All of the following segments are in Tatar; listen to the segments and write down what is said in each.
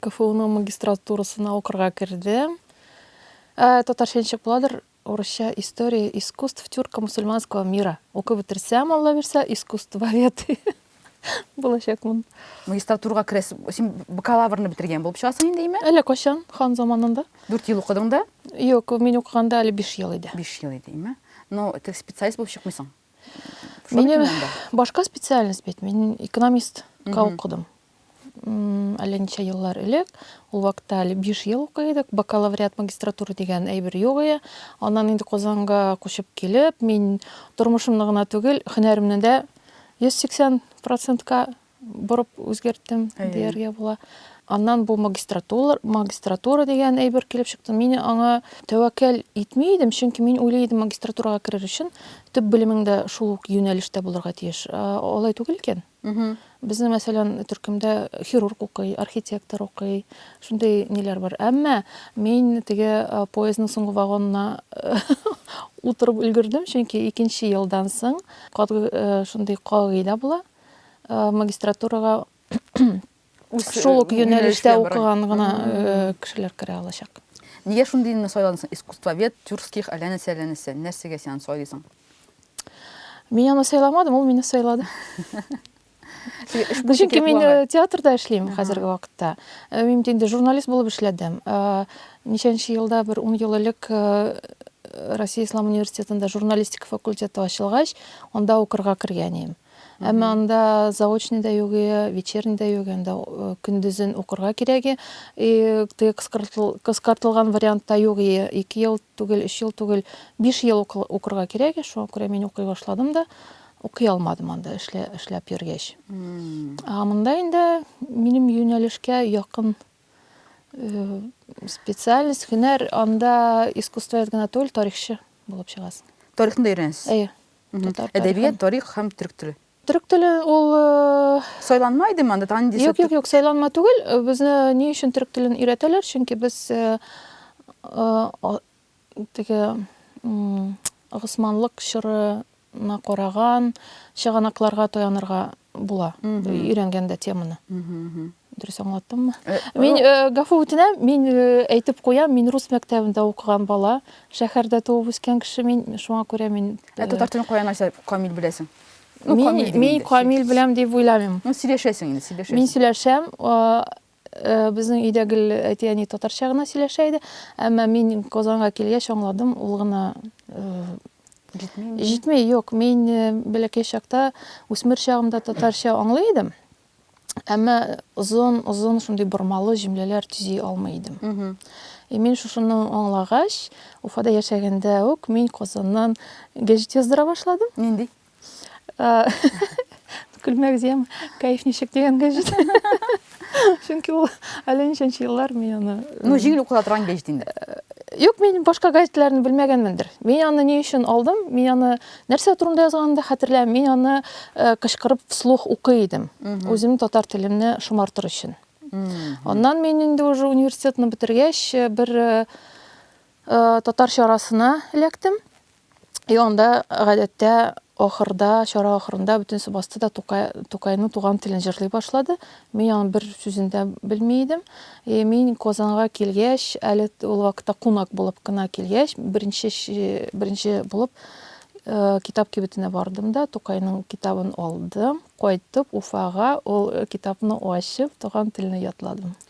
КФУның магистратурасына укырга кердем. Ә, татарча ничек буладыр? Урысча история искусств тюрка мусульманского мира. Укып бетерсәм, Алла бирсә, искусствовед булачакмын. Магистратурага керәсең, син бакалаврны бетергән булып чыгасың инде, әйме? Әллә кайчан, хан заманында. Дүрт ел укыдың да? Юк, мин укыганда әле биш ел иде. Биш ел иде, әйме? Ну, тех специалист булып чыкмыйсың. Минем башка специальность бит. Мин экономист укыдым. Әллә ничә еллар элек, ул вакытта әле 5 ел укый идек, бакалавриат магистратура дигән әйбер юк иде. Аннан инде Казанга күчеп килеп, мин тормышымны гына түгел, һөнәремне дә 180%-ка борып үзгәрттем дияргә була. Аннан бу магистратура, магистратура дигән әйбер килеп чыкты. Мин аңа тәвәккәл итми идем, чөнки мин уйлый идем, магистратурага керер өчен төп белемең дә шул ук юнәлештә булырга тиеш. Алай түгел икән. Безнең, мәсәлән, төркемдә хирург укый, архитектор укый, шундый ниләр бар. Әмма мин теге поездның соңгы вагонына утырып өлгердем, чөнки икенче елдан соң шундый кагыйдә була. магистратурага шул ук юнәлештә укыган гына кешеләр керә алачак. Нигә шундый илне сайладың? Искусствовед, Тюрских, әллә нәрсә, әллә нәрсә. Нәрсәгә син аны сайлыйсың? Мин аны сайламадым, ул мине сайлады. Чөнки мин театрда эшлим хәзерге вакытта. Мин инде журналист булып эшләдем. Ничәнче елда, бер ун ел элек Россия Ислам университетында журналистика факультеты ачылгач, анда укырга кергән идем. Әмма анда заочный да юк, вечерний да юк, анда көндезен укырга кирәге. И кыскартылган вариантта юк, ике ел түгел, өч ел түгел, биш ел укырга кирәге. Шуңа күрә мин укый башладым да, укый алмадым анда эшләп йөргәч. Ә монда инде минем юнәлешкә якын Специальность, һөнәр, анда искусствовед генә түгел, тарихчы булып чыгасың. Тарихны да өйрәнәсез? Әйе. Әдәбият, тарих һәм төрек теле. Төрек теле ул э, Сайланма иде монда, тан дисә. Юк, юк, юк, сайланма түгел. Э, безне ни өчен төрек телен өйрәтәләр? Чөнки без э, теге Госманлык чорына караган чыганакларга таянырга була өйрәнгәндә теманы дөрес аңлаттыммы э, мин э, гафу үтенәм мин э, әйтеп куям мин рус мәктәбендә укыган бала шәһәрдә туып үскән кеше мин шуңа күрә мин ә татар телен каян нәрсә камил беләсең мин камил беләм дип уйламыйм ну сөйләшәсең инде сөйләшәсең мин сөйләшәм Безнең өйдә гел әти-әни татарча гына сөйләшә иде. Әмма мин Казанга килгәч аңладым, ул гына җитми. Җитми, юк. Мин бәләкәй чакта, үсмер чагымда татарча аңлый идем. Әмма озын, озын шундый бормалы җөмләләр төзи алмый идем. И мин шушыны аңлагач, Уфада яшәгәндә үк мин Казаннан гәҗит яздыра башладым. Нинди? Көлмәк зем, кайф ничек дигәнгә җит. Чөнки ул әле ничәнче еллар мин аны... Ну, җиңел укыла торган гәҗит инде. Юк, мин башка гәҗитләрне белмәгәнмендер. Мин аны ни өчен алдым? Мин аны нәрсә турында язганын да хәтерләмим. Мин аны э, кычкырып вслух укый идем. Үзем татар телемне шомартыр өчен. Аннан мин инде уже университетны бетергәч, э, бер э, татар чарасына эләктем. И анда гадәттә ахырда, чара ахырында бөтен субасты да Тукай, Тукайның туган телен җырлый башлады. Мин аның бер сүзен дә белми идем. И мин Казанга килгәч, әле ул вакытта кунак булып кына килгәч, беренче беренче булып э, китап кибетенә бардым да Тукайның китабын алдым. Кайтып Уфага ул э, китапны ачып, туган телне ятладым.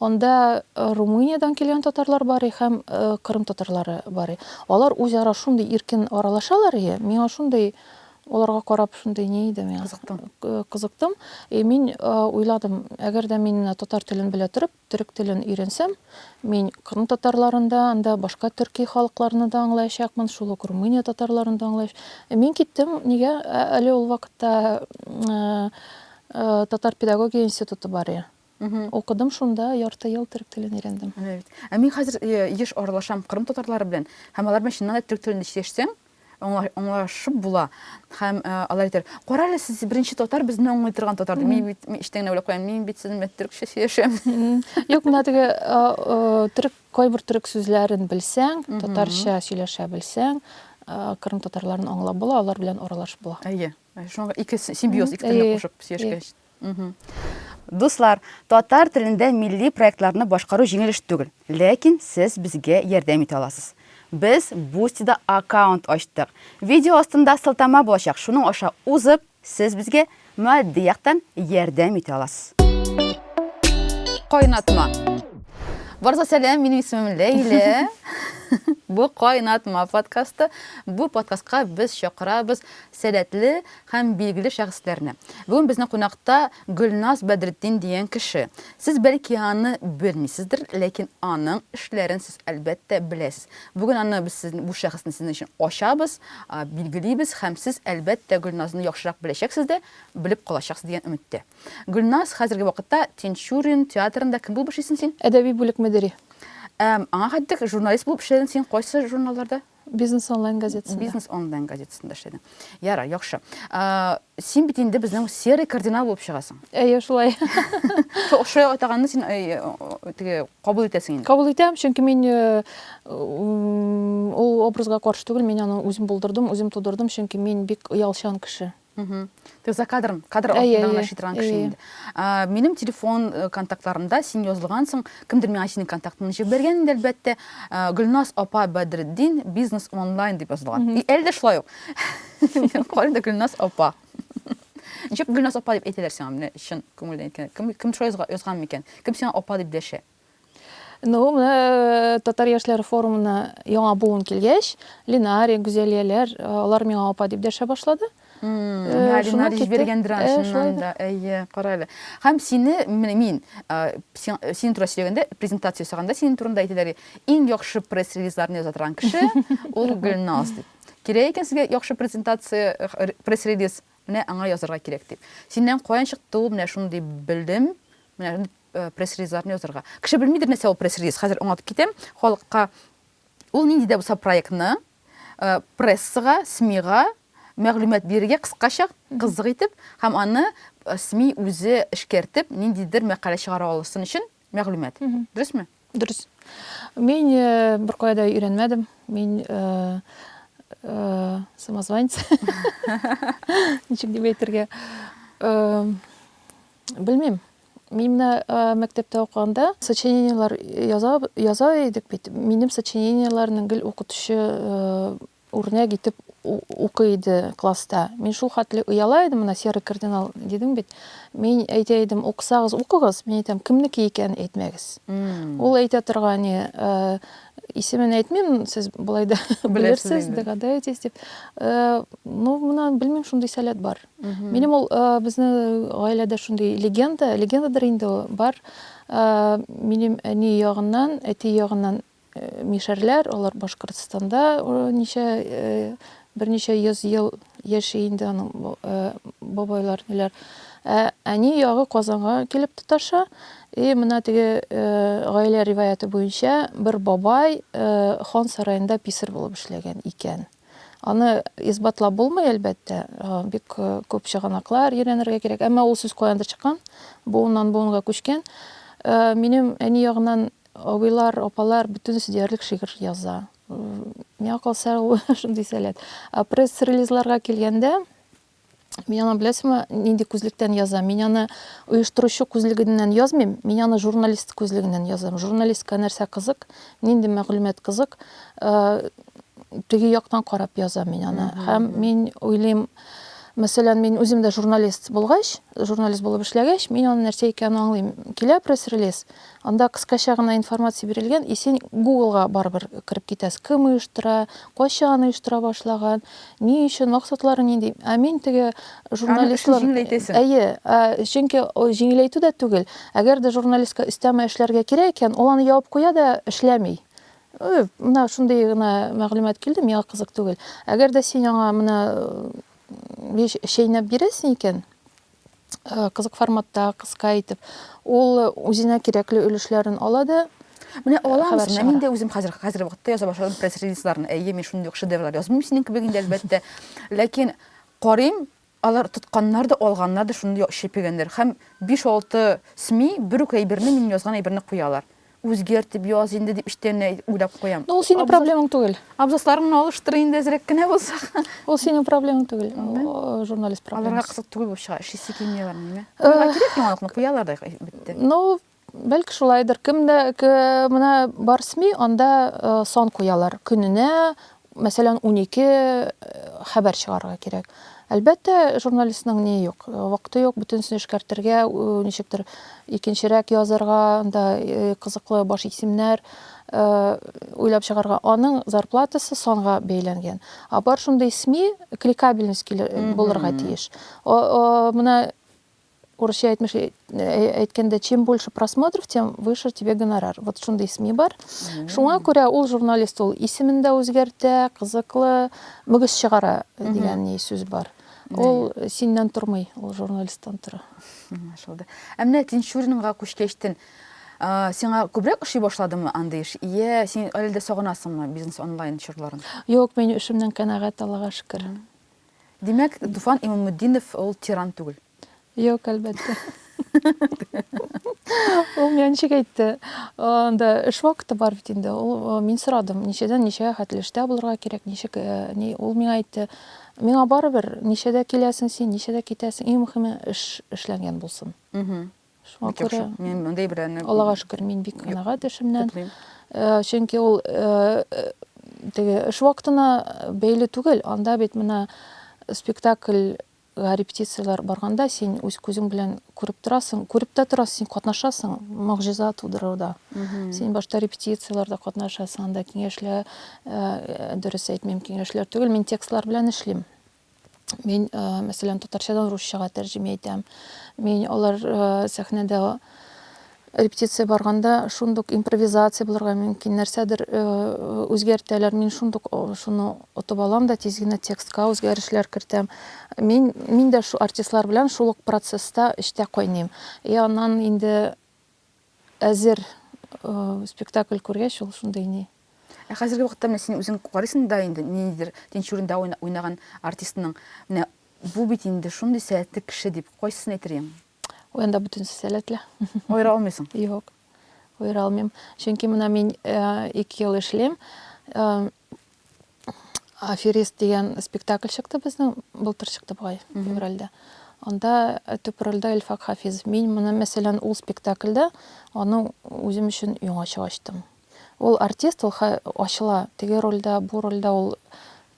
Анда Румыниядән килгән татарлар барый һәм Кырым татарлары барый. Алар үзара шундый иркен аралашалар ие, миңа шундый оларга карап шундый ни иде миңа. Кызыктым. Кызыктым. И мин уйладым, әгәр дә мин татар телен белә торып, төрек телен өйрәнсәм, мин кырым татарларын да, анда башка төрки халыкларны да аңлаячакмын, шул ук Румыния татарларын да аңлаячак. Мин киттем, нигә? Әле ул вакытта татар педагогия институты бар иде. Укыдым шунда, ярты ел төрек телен өйрәндем. Менә бит. Ә мин хәзер еш аралашам кырым татарлары белән һәм алар белән чыннан да төрек телендә сөйләшсәң, аңлашып була. Һәм алар әйтәләр, Кара әле, сез беренче татар, безне аңлый торган татар дип. Мин бит эчтән генә уйлап куям, мин бит сезнең белән төрекчә сөйләшәм. Юк, менә теге төрек, кайбер төрек сүзләрен белсәң, татарча сөйләшә белсәң, кырым татарларын аңлап була, алар белән аралашып була. Әйе. Шуңа ике симбиоз, ике телне кушып сөйләшкәч. Дуслар, татар телендә милли проектларны башкару җиңел эш түгел, ләкин сез безгә ярдәм итә аласыз. Без Бусти-да аккаунт ачтык. Видео астында сылтама булачак, шуның аша узып, сез безгә матди яктан ярдәм итә аласыз. Кайнатма. Барыгызга сәлам, минем исемем Ләйлә. Бу Кайнатма подкасты. Бу подкастка без чакырабыз сәләтле, һәм билгеле шәхесләрне. Бүген безнең кунакта Гөлназ Бәдретдин дигән кеше. Сез бәлки аны белмисездер, ләкин аның эшләрен сез әлбәттә беләсез. Бүген аны без сезне бу шәхесне сезнең өчен ачабыз, билгелибез һәм сез әлбәттә Гөлназны яхшырак беләчәксез дә, белеп калачаксыз дигән өметтә. Гөлназ, хәзерге вакытта Тинчурин театрында кем булып эшлисең син? Әдәби бүлек мөдире. Ә аңа хәтлек журналист булып эшләдең син кайсы журналларда? Бизнес онлайн газетасында. Бизнес онлайн газетасында эшләдең. Ярар, яхшы. Син бит инде безнең серый кардинал булып чыгасың. Әйе, шулай. Шулай атаганны син теге кабул итәсең инде. Кабул итәм, чөнки мин э, ул образга каршы түгел, мин аны үзем булдырдым, үзем тудырдым, чөнки мин бик оялчан кеше. Ты за кадрын, кадр артында гына шитырган кеше инде. Минем телефон э, контактларымда син язылгансың, кемдер миңа синең контактыңны җибеп биргән инде, әлбәттә. Гөлназ апа Бәдретдин бизнес онлайн дип язылган. И әле дә шулай ук. Кайда да Гөлназ апа. Ничек Гөлназ апа дип әйтәләр сиңа, менә чын күңелдән әйткәндә. Кем кем шулай язган микән? Кем сиңа апа дип дәшә? Ну, менә э, татар яшьләре форумына яңа буын килгәч, Линари, Гүзәлияләр, э, алар миңа апа дип дәшә башлады. Э, Линари җибәргән драншыннан да. Әйе, кара әле. Һәм сине, менә мин, синең турында сөйләгәндә, презентация ясаганда синең турында әйтәләр, иң яхшы пресс-релизларны яза торган кеше, ул Гөлназ дип. Кирәк икән сезгә яхшы презентация, пресс-релиз, менә аңа язарга кирәк дип. Синнән каян чыкты ул, менә шундый белдем, менә пресс-релизларны язырга. Кеше белмидер, нәрсә ул пресс-релиз. Хәзер аңлатып китәм халыкка. Ул нинди дә булса проектны прессага, СМИга мәгълүмат бирергә кыскача, кызык итеп һәм аны СМИ үзе эшкәртеп, ниндидер мәкалә чыгара алсын өчен мәгълүмат. Дөресме? Дөрес. Мин беркая да өйрәнмәдем. Мин самозванец. Ничек дип әйтергә? Белмим. Мин менә мәктәптә укыганда сочинениеләр яза, яза идек бит. Минем сочинениеләрне гел укытучы үрнәк итеп укый иде класста. Мин шул хәтле ояла идем, менә серый кардинал дидем бит. Мин әйтә идем, укысагыз, укыгыз. Мин әйтәм, кемнеке икән әйтмәгез. Ул әйтә торган, не, э, исемен әйтмим, сез болай да белерсез, догадаетесь дип. Э, ну, менә белмим, шундый сәләт бар. Минем ул безнең гаиләдә шундый легенда, легендадыр инде ул бар. Минем әни ягыннан, әти ягыннан мишәрләр, алар Башкортстанда ничә берничә йөз ел яши инде аның бабайлар ниләр. Ә әни ягы Казанга килеп тоташа. И менә теге гаилә риваяты буенча бер бабай хан сараенда писарь булып эшләгән икән. Аны исбатлап булмый, әлбәттә, бик күп чыганаклар өйрәнергә кирәк. Әмма ул сүз каяндыр чыккан, буыннан буынга күчкән. Минем әни ягыннан абыйлар, апалар бөтенесе диярлек шигырь яза. Миңа калса, ул шундый сәләт. Пресс-релизларга килгәндә, Мин аны беләсеңме, нинди күзлектән язам? Мин аны оештыручы күзлегеннән язмыйм, мин аны журналист күзлегеннән язам. Журналистка нәрсә кызык, нинди мәгълүмат кызык, э, теге яктан карап язам мин аны. Һәм мин уйлыйм, мәсәлән, мин үзем дә журналист булгач, журналист булып эшләгәч, мин аны нәрсә икәнен аңлыйм. Килә пресс-релиз, Анда кыскача гына информация бирелгән, и син гуглга барыбер кереп китәс, кем оештыра, кайчан оештыра башлаган, ни өчен, максатлары нинди. Ә мин теге журналистлар... Аны өчен җиңеләйтәсең. Әйе, ә, чөнки җиңеләйтү дә түгел, әгәр дә журналистка өстәмә эшләргә кирәк икән, ул аны ябып куя да эшләми. Ы, менә шундый гына мәгълүмат килде, миңа кызык түгел. Әгәр дә син аңа менә чәйнәп бирәсең икән, э, кызык форматта, кыска итеп, ул үзенә кирәкле өлешләрен ала да Менә э, алам үзенә. Мин дә үзем хәзер хәзер вакытта яза башладым пресс-релизларны. Әйе, мин шундый ук шедеврлар язмыйм синең кебек инде әлбәттә. Ләкин карыйм, алар тотканнар да, алганнар да шундый чепегәннәр. Һәм 5-6 СМИ бер үк әйберне, мин язган әйберне куялар. Үзгәрт дип яз инде дип эчтәннәй уйлап куям. Ну, ул синең проблемаң түгел. Абзасларың гына алыштыр инде әзрәк кенә булса. Ул синең проблемаң түгел. Журналист проблемасы. Аларга кызык түгел булып чыга. Эшлисе килми аларның, әйме? Аларга кирәк яңалыкны куялар да бетте. Ну, бәлки шулайдыр. Кемдә мына бар СМИ, анда сон куялар. Көненә мәсәлән, унике хәбәр чыгарырга кирәк. Әлбәттә, журналистның ни юк, вакыты юк, бөтенесен эшкәртергә, ничектер икенчерәк язарга, анда кызыклы баш исемнәр уйлап чыгарга. Аның зарплатасы санга бәйләнгән. А бар шундый СМИ кликабельность булырга тиеш. Менә Урысча әйтмеш әйткәндә, чем больше просмотров, тем выше тебе гонорар. Вот шундый исми бар. Шуңа күрә ул журналист ул исемен дә үзгәртә, кызыклы, мөгез чыгара дигән ни сүз бар. Ул синнән тормый, ул журналисттан тора. Шулды. Ә менә Тинчуринга күчкәчтен сиңа күбрәк ошый башладымы андый эш? Йә, син әле дә сагынасыңмы бизнес онлайн чорларын? Юк, мин эшемнән канәгать, Аллага шөкер. Димәк, Туфан Имамутдинов ул тиран түгел. Юк, әлбәттә. Ул миңа ничек әйтте? Анда эш вакыты бар бит инде. Ул мин сорадым, ничәдән ничәгә хәтле эштә булырга кирәк, ничек э, ни ул миңа әйтте. Миңа барыбер, ничәдә киләсең син, ничәдә китәсең, иң мөһиме эш эшләнгән булсын. Шуңа күрә мин мондый берәне Аллага шөкер, мин бик канәгать эшемнән. Э, чөнки ул э, э, теге эш вакытына бәйле түгел. Анда бит менә спектакль репетицияләр барганда син үз күзең белән күреп торасың, күреп тә торасың, син катнашасың могҗиза тудыруда. Син башта репетицияләрдә катнашасың, анда киңәшләр, дөрес әйтмим, киңәшләр түгел, мин текстлар белән эшлим. Мин, э, мәсәлән, татарчадан русчага тәрҗемә итәм. Мин алар э, сәхнәдә репетиция барганда шундук импровизация булырга мөмкин, нәрсәдер э, үзгәртәләр. Мин шундук шуны отып алам да тиз генә текстка үзгәрешләр кертәм. Мин мин дә шу артистлар белән шул ук процесста эчтә кайныйм. И аннан инде Әзер спектакль күргәч, ул шундый ни. Ә хәзерге вакытта менә син үзең карыйсың да инде, ниндидер Тинчуринда уйнаган артистның, менә бу бит инде шундый сәләтле кеше дип, кайсысын әйтер идең? Ой, анда бөтенесе сәләтле. Аера алмыйсың? Юк. Аера алмыйм. Чөнки менә мин ике ел эшлим. Аферист дигән спектакль чыкты безнең, былтыр чыкты бугай, февральдә. Анда э, төп рольдә Илфак Хафизов. Мин моны, мәсәлән, ул спектакльдә аны үзем өчен яңача ачтым. Ул артист, ул ха- ачыла. Теге рольдә, бу рольдә ул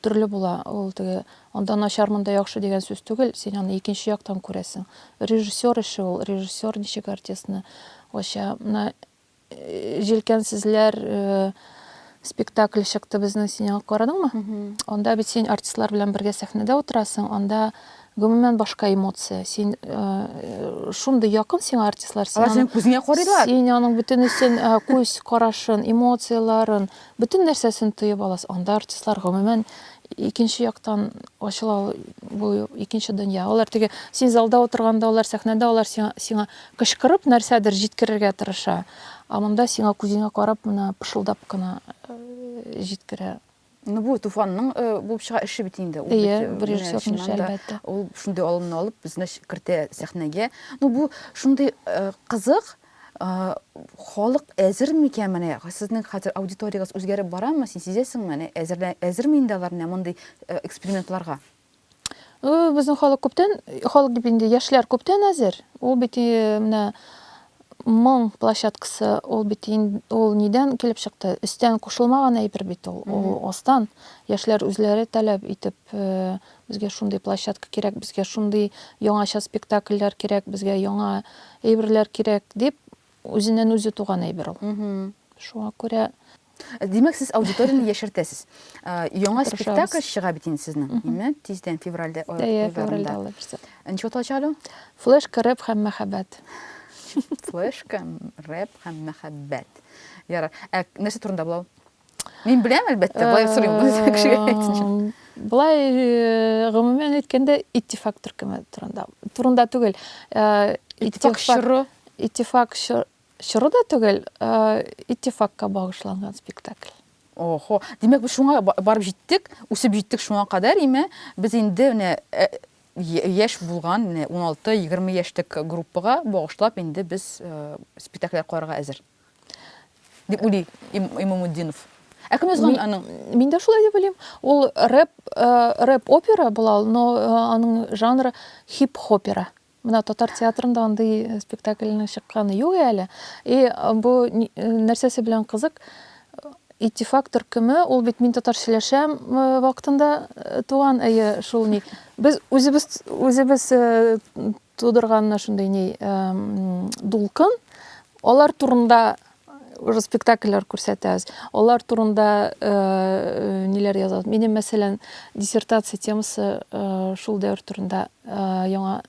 төрле була. Ул теге анда начар, монда яхшы дигән сүз түгел, син аны икенче яктан күрәсең. Режиссер эше ул, режиссер ничек артистны ача. Менә Җилкәнсезләр спектакле чыкты безнең синең карадыңмы? Анда бит син артистлар белән бергә сәхнәдә утырасың, анда гомумән башка эмоция. Син э, шундый якын сиңа артистлар. Алар синең күзеңә карыйлар. Син аның бөтенесен э, күз карашын, эмоцияләрен, бөтен нәрсәсен тоеп аласың. Анда артистлар гомумән икенче яктан ачыла бу икенче дөнья. Алар теге син залда утырганда, алар сәхнәдә, алар сиңа, сиңа Кычкырып нәрсәдер җиткерергә тырыша, ә монда сиңа күзеңә карап менә пышылдап кына җиткерә. Ну бу Туфанның булып чыга эше бит инде. Ул бит режиссер эше әлбәттә. Ул шундый алымны алып безне кертә сәхнәгә. Ну бу шундый кызык, халык әзер микән менә? Сезнең хәзер аудиториягез үзгәреп барамы? Син сизәсеңме? Әнә әзерме инде алар менә мондый экспериментларга? Безнең халык күптән, халык дип инде яшьләр күптән әзер. Ул бит менә моң площадкасы, ул бит ул нидән килеп чыкты? Өстән кушылмаган әйбер бит ул, ул астан. Яшьләр үзләре таләп итеп, безгә шундый площадка кирәк, безгә шундый яңача спектакльләр кирәк, безгә яңа әйберләр кирәк дип, үзеннән үзе туган әйбер ул. Шуңа күрә Димәк, сез аудиторияне яшертәсез. Яңа спектакль чыга бит инде сезнең, име? Тиздән февральдә февральдә алабыз. Ничек аталачак әле? Флешка, рэп һәм мәхәббәт. Флешка, рэп һәм мәхәббәт. Ярар. Ә нәрсә турында булау? Мин беләм, әлбәттә, былай сорыйм, бу кешегә әйтсен. Былай гомумән әйткәндә, иттифак төркеме турында. Турында түгел. Иттифак чоры. Иттифак чоры. Чоры да түгел, иттифакка багышланган спектакль. Охо, димәк, без шуңа барып җиттек, үсеп җиттек шуңа кадәр, име? Без инде менә э, яшь булган, менә 16-20 яшьлек группага багышлап инде без э, спектакльләр карарга әзер. Дип уйлый Имамуддинов. Ә кем язган аның? Мин дә шулай дип уйлыйм. Ул рэп, э, рэп опера була, но аның жанры хип-хопера. Менә татар театрында андый спектакльнең чыкканы юк әле. И бу нәрсәсе белән кызык? Иттифак төркеме, ул бит мин татар сөйләшәм вакытында туган, әйе, шул ни. Без үзебез үзебез тудырган шундый ни дулкын, алар турында уже спектакльләр күрсәтәбез. Алар турында э, э, ниләр язабыз? Минем, мәсәлән, диссертация темасы э, шул дәвер турында яңа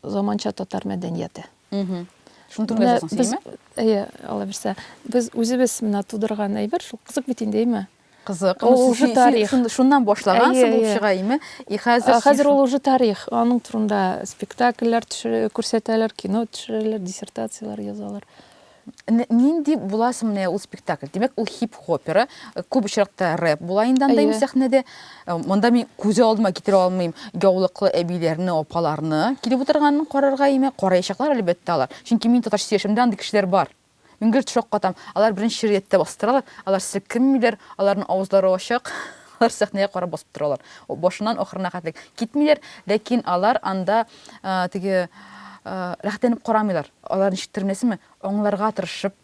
заманча татар мәдәнияте. Шуны турында язасың, синме? Әйе, ала бирсә. Без үзебез менә тудырган әйбер, шул кызык бит инде, әйме? Кызык. Ул ну, уже тарих. Шуннан башлаган әйе, булып чыга име? И хәзер Хәзер ул уже тарих. Аның турында спектакльләр төшерә, күрсәтәләр, кино төшерәләр, диссертацияләр язалар. Нинди буласың менә ул спектакль? Димәк, ул хип-хопера, күп очракта рэп була инде анда инде сәхнәдә. Монда мин күз алдыма китерә алмыйм. Яулыклы әбиләрне, апаларны килеп утырганын карарга име? Караячаклар әлбәттә алар. Чөнки мин татарча яшәмдә андый кешеләр бар. Мин гел шаккатам, алар беренче шигърияттә басып торалар, алар селкенмиләр, аларның авызлары ачык, алар сәхнәгә карап басып торалар. Башыннан ахырына хәтлек китмиләр, ләкин алар анда теге рәхәтләнеп карамыйлар. Алар ничектер беләсеңме, аңларга тырышып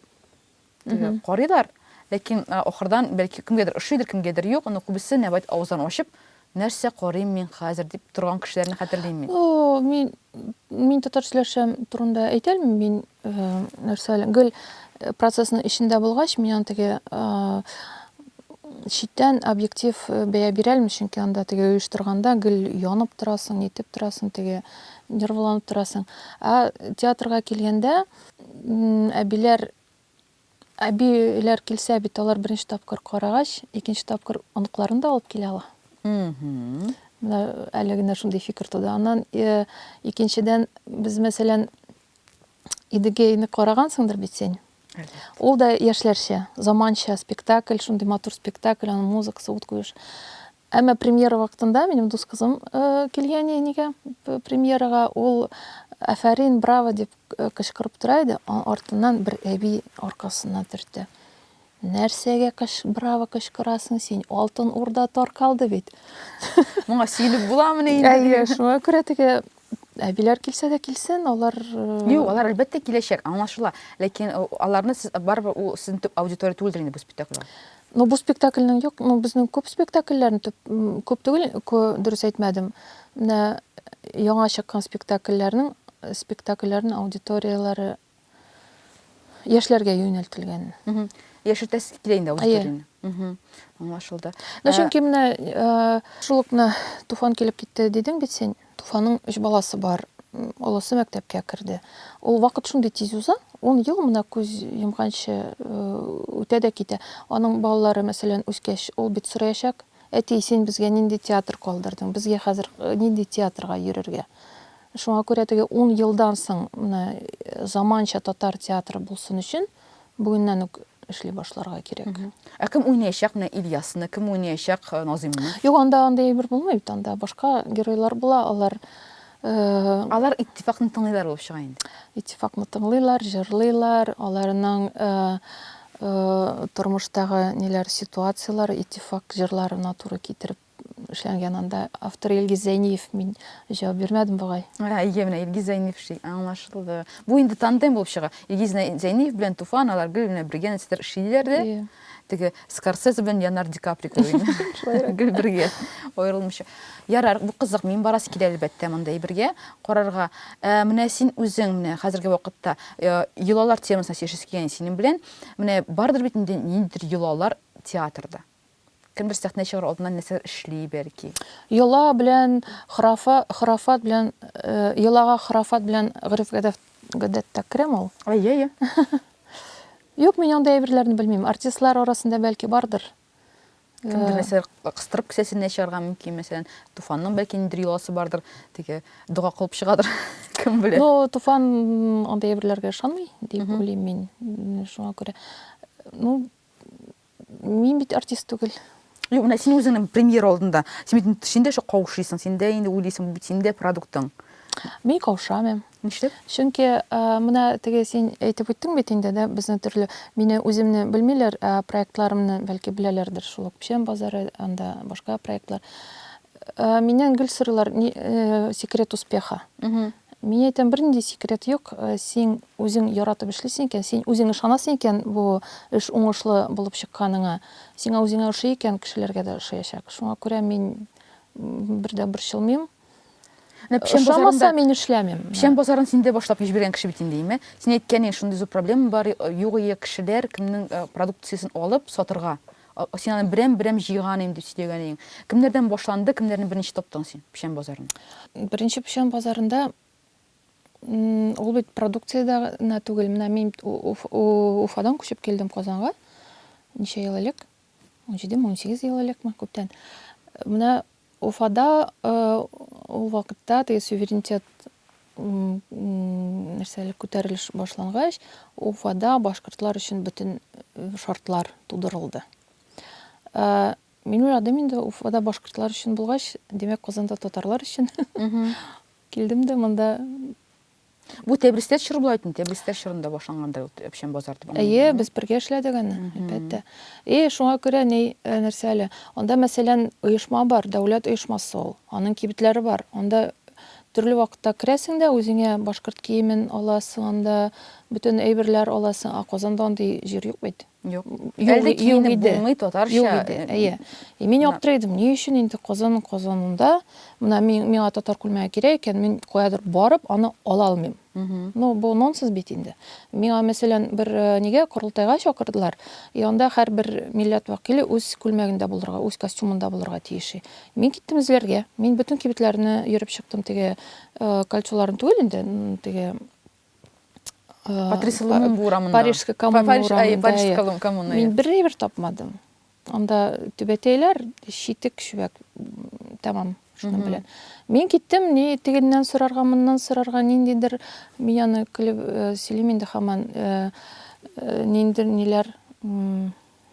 карыйлар, ләкин ахырдан бәлки кемгәдер ошыйдыр, кемгәдер юк, но күбесе нәүбәт авызларын ачып Нәрсә карыйм мин хәзер, дип торган кешеләрне хәтерлим мин. Мин, мин татар сөйләшәм турында әйтә алмыйм, мин нәрсә, гел процессның эчендә булгач, мин аны теге читтән объектив бәя бирә алмыйм, чөнки анда теге оештырганда гел янып торасың, нитеп торасың, теге нервланып торасың. Ә театрга килгәндә, әбиләр Әбиләр килсә бит, алар беренче тапкыр карагач, икенче тапкыр оныкларын да алып килә ала. Менә әле генә шундый фикер туды. Аннан икенчедән, без, мәсәлән, Идегейны карагансыңдыр бит син. Ул да яшьләрчә, заманча спектакль, шундый матур спектакль, аның музыкасы, ут куеш. Әмма премьера вакытында минем дус кызым килгән әнигә премьерага, ул афәрин, браво дип кычкырып тора иде, артыннан бер әби аркасына төртте. Нәрсәгә кыш браво кычкырасың син? Алтын урда таркалды бит. Моңа сөенеп буламыни инде? Әйе, шуңа күрә теге Әбиләр килсә дә килсен, алар... Юк, алар әлбәттә киләчәк, аңлашыла. Ләкин э, аларны сез барыбер ул сезнең төп аудитория түгелдер инде бу спектакльгә. Ну, бу спектакльнең юк, ну, безнең күп спектакльләрен төп күп түгел, кө, дөрес әйтмәдем. Менә яңа чыккан спектакльләрнең спектакльләрнең аудиторияләре яшьләргә юнәлтелгән. Яшертәсе килә инде аудиторияне. Аңлашылды. Ну, чөнки менә шул ук менә Туфан килеп китте дидең бит син. Туфанның өч баласы бар. Олысы мәктәпкә керде. Ул вакыт шундый тиз уза, ун ел менә күз йомганчы үтә дә китә. Аның балалары, мәсәлән, үскәч, ул бит сораячак, Әти, син безгә нинди театр калдырдың? Безгә хәзер нинди театрга йөрергә? Шуңа күрә теге ун елдан соң менә заманча татар театры булсын өчен бүгеннән үк эшли башларга кирәк. Ә кем уйнаячак менә Ильясны, кем уйнаячак Назыймны? Юк, анда андый әйбер булмый бит, анда башка геройлар була, алар Алар Иттифакны тыңлыйлар булып чыга инде. Иттифакны тыңлыйлар, җырлыйлар, аларның тормыштагы ниләр ситуацияләр Иттифак җырларына туры китереп эшләнгән анда автор Илгиз Зәйниев мин җавап бирмәдем бугай. Әйе, менә Илгиз Зәйниев ши, аңлашылды. Бу инде тандем булып чыга. Илгиз Зәйниев белән Туфан алар гел менә бергә нәрсәдер эшлиләр дә. Теге Скорсезе белән Леонардо Ди Каприо кебек инде. Шулайрак. Гел бергә, аерылмыйча. Ярар, бу кызык, мин барасы килә, әлбәттә, мондый бергә карарга. Ә менә син үзең, менә хәзерге вакытта э, йолалар темасына сөйләшәсе килгән синең белән. Менә бардыр бит инде ниндидер йолалар театрда. Кемдер сәхнә чыгар алдыннан нәрсәләр эшли, бәлки. Йола белән храфа, храфат белән э, йолага храфат белән гореф-гадәф гадәттә керәме ул? Әйе, әйе. Юк, мин андый әйберләрне белмим. Артистлар арасында бәлки бардыр. Кемдер мәсәлән кыстырып кесәсенә чыгарга мөмкин, мәсәлән, Туфанның бәлки ниндер йоласы бардыр, теге дога кылып чыгадыр. Кем белә? Ну, Туфан андый әйберләргә ышанмый, дип уйлыйм мин. Шуңа күрә. Ну, Мин бит артист түгел. Юк, менә син үзеңнең премьер алдында. Син бит инде- син дә шо каушыйсың, син дә инде уйлыйсың, бу бит син дә продуктың. Мин каушамыйм. Нишләп? Чөнки ә, менә теге син әйтеп үттең бит инде, дә, безне төрле, мине үземне белмиләр, ә проектларымны бәлки беләләрдер, шул ук Печән базары, анда башка проектлар. Ә, миннән гел сорыйлар, ни, э, секрет успеха. Мин әйтәм, бернинди секрет юк, син үзең яратып эшлисең икән, син үзең ышанасың икән бу эш уңышлы булып чыкканыңа, сиңа үзеңә ошый икән, кешеләргә дә ошаячак. Шуңа күрә мин бер дә борчылмыйм. Ошамаса, мин эшләмим. Печән базарын син дә башлап җибәргән кеше бит инде, име? Син әйткән идең, шундый зур проблема бар, югые кешеләр кемнең продукциясен алып сатырга. Син аны берәм-берәм җыйган идең, дип сөйләгән идең. Кемнәрдән башланды, кемнәрне беренче таптың син печән базарында? Беренче печән базарында ул бит продукциядә генә түгел. Менә мин Уфадан күчеп килдем Казанга. Ничә ел элек? 17-18 ел элекме, күптән. Менә Уфада ул вакытта теге суверенитет нәрсә әле күтәрелеш башлангач, Уфада башкортлар өчен бөтен шартлар тудырылды. Минем адым инде Уфада башкортлар өчен булгач, димәк, Казанда татарлар өчен. Килдем дә монда Бу Тәбристә чор була икән, Тәбристә чорында башлангандыр ул Әпшән базар дип. Әйе, без бергә эшләдек аны, әлбәттә. И, шуңа күрә ни, э, нәрсә әле? Анда, мәсәлән, оешма бар, дәүләт оешмасы ул. Аның кибетләре бар. Анда төрле вакытта керәсең дә, үзеңә башкорт киемен аласың, анда бөтен әйберләр аласың. Ә Казанда андый җир юк бит. Юк. Әлде киенеп булмый татарча. Юк иде. Әйе. И мин аптырый идем. Ни өчен инде кызын кызынында менә миңа татар күлмәге кирәк икән, мин каядыр барып аны ала алмыйм. Ну, бу нонсенс бит инде. Миңа мәсәлән бер э, нигә корылтайга чакырдылар. И анда һәрбер милләт вәкиле үз күлмәгендә булырга, үз костюмында булырга тиеш. Мин киттем эзләргә. Мин бөтен кибетләрне йөреп чыктым теге э, кольцоларын түгел инде, теге Патриса Лумумба урамында. Парижская коммуна Париж, урамында. Парижская иә. коммуна. Мин бердә бер тапмадым. Анда түбәтәйләр, шитек, шүбәк, тәмам. Шуның белән. Мин киттем, ни тегеннән сорарга, моннан сорарга, ниндидер, мин аны көлеп сөйлим инде хаман, ниндидер ниләр,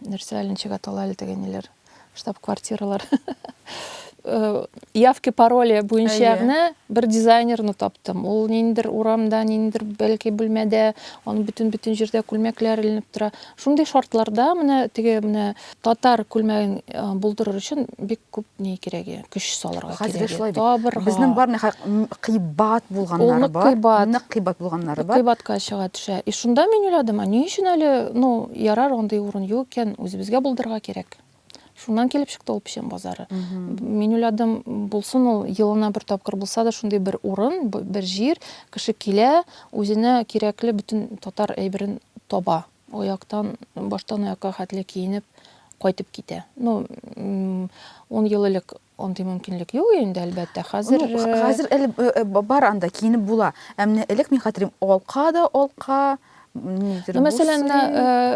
нәрсә әле ничек атала әле теге ниләр штаб квартиралар э, явки пароли буенча гына бер дизайнерны таптым ул ниндидер урамда ниндидер бәлки бүлмәдә аның бөтен бөтен җирдә күлмәкләр эленеп тора шундый шартларда менә теге менә татар күлмәген э, булдырыр өчен бик Күп ни кирәге, көч салырга кирәге. Хәзер шулай бит. Табырга. Безнең бар ни хак кыйбат булганнары бар. Кыйбат. Нык кыйбат булганнары бар. Кыйбатка чыга төшә. И шунда мин уйладым, а ни өчен әле, ну, ярар, андый урын юк икән, үзебезгә булдырырга кирәк. Шуннан килеп чыкты ул печән базары. Мин уйладым, булсын ул елына бер тапкыр булса да шундый бер урын, бер җир, кеше килә, үзенә кирәкле бөтен татар әйберен таба. Аяктан, баштан аякка хәтле киенеп кайтып китә. Ну, ун ел элек андый мөмкинлек юк инде, әлбәттә. Хәзер ну, э, хәзер әле э, э, бар анда киенеп була. Ә менә элек мин хәтерим, алка да алка, Нидер мәсәлән,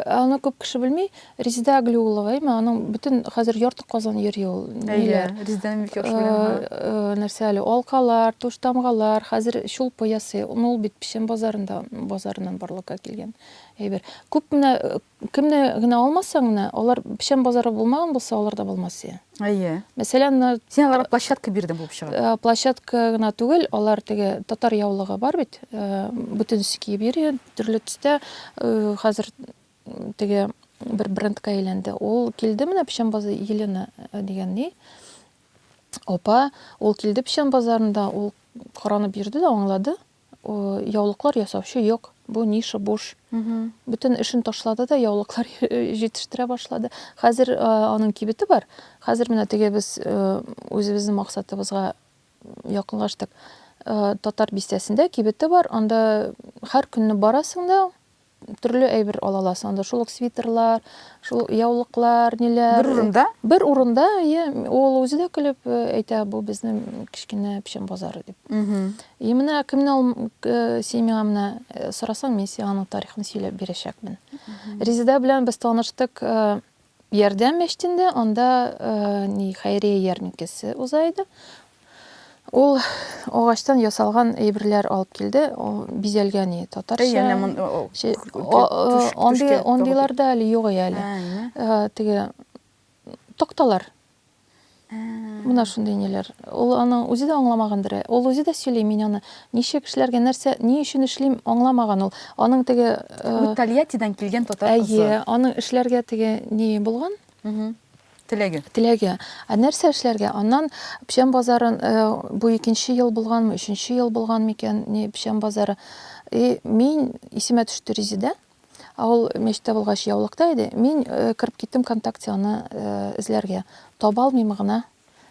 аны күп кеше белми, Резеда Аглиулова, әйме, аның бөтен хәзер ярты Казан йөри ул. Әйе, Резеда Милкешова. Нәрсә әле, алкалар, туш тамгалар, хәзер чулпы ясый. Ул бит Печән базарында, базарыннан барлыкка килгән. әйбер. Күп менә кемне генә алмасаң менә, алар печән базары булмаган булса, алар да булмас иде. Әйе. Мәсәлән, менә Син аларга площадка бирдең булып чыга. Э, площадка гына түгел, алар теге татар яулыгы бар бит, э, бөтенесе киеп йөри, төрле төстә. Э, хәзер теге бер брендка әйләнде. Ул килде менә печән базы Елена э, дигән ни. Опа, ул килде печән базарында, ул каранып йөрде дә аңлады. Яулыклар ясаучы юк, бу ниша буш. Бөтен эшен ташлады да яулыклар җитештерә башлады. Хәзер аның кибете бар. Хәзер менә теге без үзебезнең максатыбызга якынлаштык. Татар бистәсендә кибете бар, анда һәр көнне барасың да, Төрле әйбер ала аласың. Анда шул ук свитерлар, шул яулыклар, ниләр. Бер урында? Бер урында, иә. Ул үзе дә көлеп э, әйтә, бу безнең кечкенә печән базары дип. И менә кемне ул э, син миңа менә э, сорасаң, мин сиңа аның тарихын сөйләп бирәчәкмен. Резеда белән без таныштык Ярдәм мәчетендә анда ни хәйрия ярминкәсе уза иде. Ул агачтан ясалган әйберләр алып килде, бизәлгән иде татарча. Андыйлар да әле юк әле. Теге такталар Менә шундый ниләр. Ул аның үзе дә аңламагандыр. Э, ул үзе дә сөйли, мин аны ничек эшләргә, нәрсә, ни өчен эшлим, аңламаган ул. Аның теге э, Тольяттидан килгән татар кызы. Әйе, аның эшләргә теге ни булган? Теләге. Теләге. Ә нәрсә эшләргә? Аннан печән базарын э, бу икенче ел булганмы, өченче ел булган микән, ни печән базары. И мин исемә төште Резеда. Ә ул мичтә булгач яулыкта иде. Мин кереп киттем контакте аны эзләргә. Таба алмыйм гына.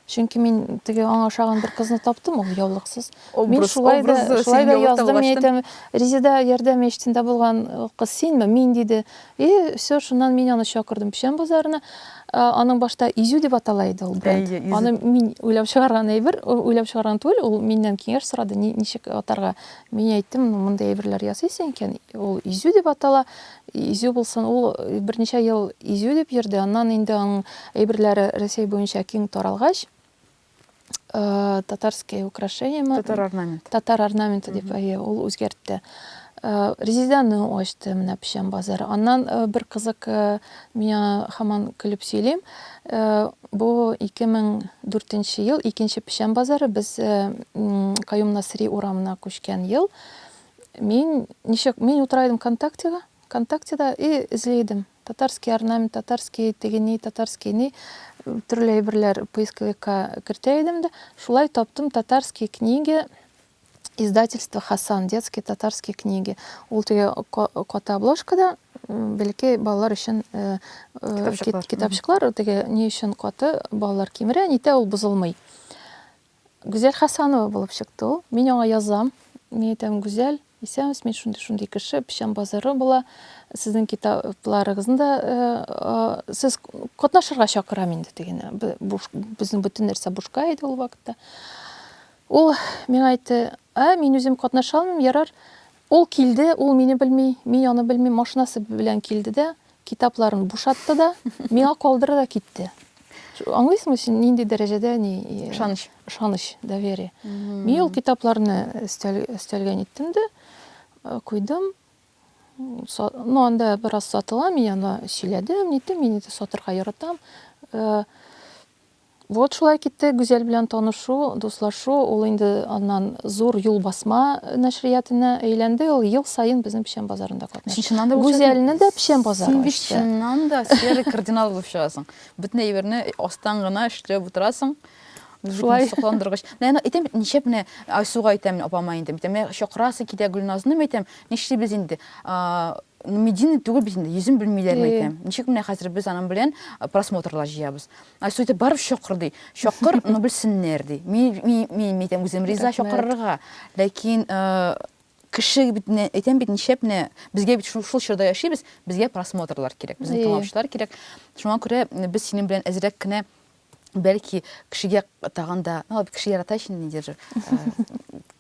Чөнки мин теге аңа ошаган бер кызны таптым, ул яулыксыз. Мин шулай да, шулай да яздым, мин әйтәм, Резеда ярдәм мечтендә булган кыз синме? Мин, диде. И, все, шуннан мин аны чакырдым Печән базарына. Аның башта Изю дип атала иде ул бренд. Аны мин уйлап чыгарган әйбер, уйлап чыгарган түгел, ул миннән киңәш сорады, ничек атарга, Мин әйттем, ну, мондый әйберләр ясыйсы икән, ул изю дип атала. Изю булсын, ул берничә ел изю дип йөрде. Аннан инде аның әйберләре Рәсәй буенча киң таралгач, татарские украшения, татар орнамент. Татар орнаменты дип, әйе, ул үзгәртте. Резиданы ачты, менә печән базары. Аннан бер кызык Мин аңа һаман көлеп сөйлим. Бу 2004 нче ел, икенче печән базары, без Каюм Насыйри урамына күчкән ел. Мин ничек, мин утыра идем ВКонтактега, ВКонтактеда и эзли идем. Татарский орнамент, татарский теге-ни, татарский ни, төрле әйберләр поисковикка кертә идем дә, шулай таптым татарские книги Издательство Хасан, детские татарские книги. Ул теге каты обложкада бәлки балалар өчен китапчыклар, теге ни өчен каты балалар кимерә, нитә ул бозылмый. Гүзәл Хасанова булып чыкты ул. Мин аңа язам. Мин әйтәм, Гүзәл, исәнмесез, мин шундый шундый кеше, печән базары була. Сезнең китапларыгызны да сез катнашырга чакырам инде дигән. Безнең бөтен нәрсә бушка иде ул вакытта. Ул миңа әйтте, Ә, мин үзем катнаша алмыйм, ярар. Ул килде, ул мине белми, мин аны белмим, машинасы белән килде дә, китапларын бушатты да, миңа калдырды да китте. Аңлыйсыңмы син, нинди дәрәҗәдә ни... Ышаныч. Ышаныч, доверие. Мин ул китапларны өстәлгә ниттем дә, куйдым. Ну, анда бераз сатыла, мин анда сөйләдем, ниттем, мин инде сатырга яратам. Вот шулай китте Гүзәл белән танышу, дуслашу, ул инде аннан Зур юл басма нәшриятына әйләнде, ул ел саен безнең Печән базарында катнаша. Гүзәлне дә Печән базары ачты. Син бит чыннан да серый кардинал булып чыгасың. Бөтен әйберне астан гына эшләп утырасың. Шулай. Сокландыргыч. Менә әйтәм бит, ничәп менә Айсуга әйтәм, апама инде. Әйтәм, менә чакырасы килә Гөлназны, әйтәм, нишлибез инде? Медийный түгел бит инде, йөзен белмиләрме әйтәм. Ничек менә хәзер без аның белән просмотрлар җыябыз? Айсу әйтә, барып чакыр, ди. Чакыр, ну белсеннәр, ди. Мин әйтәм, үзем риза чакырырга. Ләкин кеше бит менә әйтәм бит нишләп менә безгә бит шул чорда яшибез, безгә просмотрлар кирәк, безне тыңлаучылар кирәк. Шуңа күрә без синең белән әзрәк кенә бәлки кешегә тагын да, ну кеше ярата ич инде,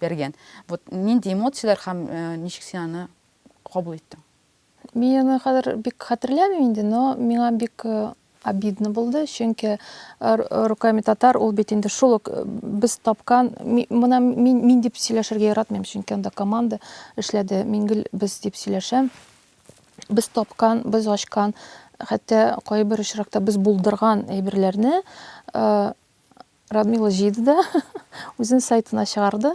Бәргән. Вот нинди эмоцияләр һәм ничек син аны кабул иттең? Мин аны хәзер бик хәтерләмим инде, но миңа бик э, обидно булды, чөнки э, э, руками татар ул бит инде шул ук без тапкан, мына мин, мин дип сөйләшергә яратмыйм, чөнки анда команда эшләде, мин гел без дип сөйләшәм. Без тапкан, без ачкан, хәтта кайбер очракта без булдырган әйберләрне Радмила җыйды да, үзен сайтына чыгарды.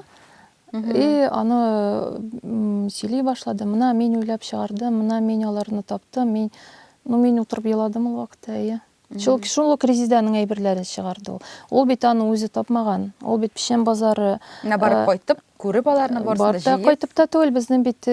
И, аны сөйли башлады. Мына мин уйлап чыгардым, мына мин аларны таптым, мин, ну, мин утырып еладым ул вакытта, әйе. Шул, шул ук Резиданың әйберләрен чыгарды ул. Ул бит аны үзе тапмаган. Ул бит Печән базары. На барып кайтып. Күреп аларны барсын да җыеп. Кайтып та түгел, безнең бит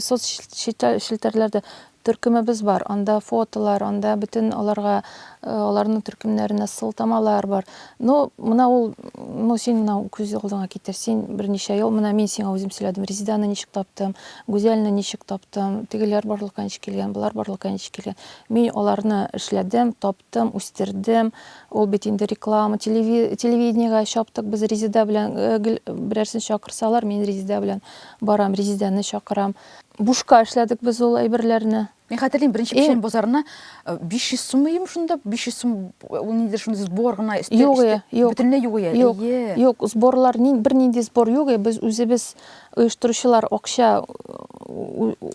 соцчелтәрләрдә төркемебез бар. Анда фотолар, анда бөтен аларга аларның төркемнәренә сылтамалар бар. Ну, менә ул, ну син менә күз алдыңа китер. Син берничә ел, менә мин сиңа үзем сөйләдем. Резиданы ничек таптым, Гүзәлне ничек таптым, тегеләр барлыкка ничек килгән, болар барлыкка ничек килгән. Мин аларны эшләдем, таптым, үстердем. Ул бит инде реклама, телевидениегә чаптык без Резеда белән, э, берәрсен чакырсалар, мин Резеда белән барам, Резеданы чакырам. Бушка эшләдек без ул әйберләрне. Мин хәтерлим, беренче печән базарына 500 э, сум ием шунда, 500 сум ул ниндидер шундый сбор гына өсте. Юк, юк. Бөтенләй юк ия. Юк, юк, сборлар ни, бер нинди сбор юк, без үзебез оештыручылар акча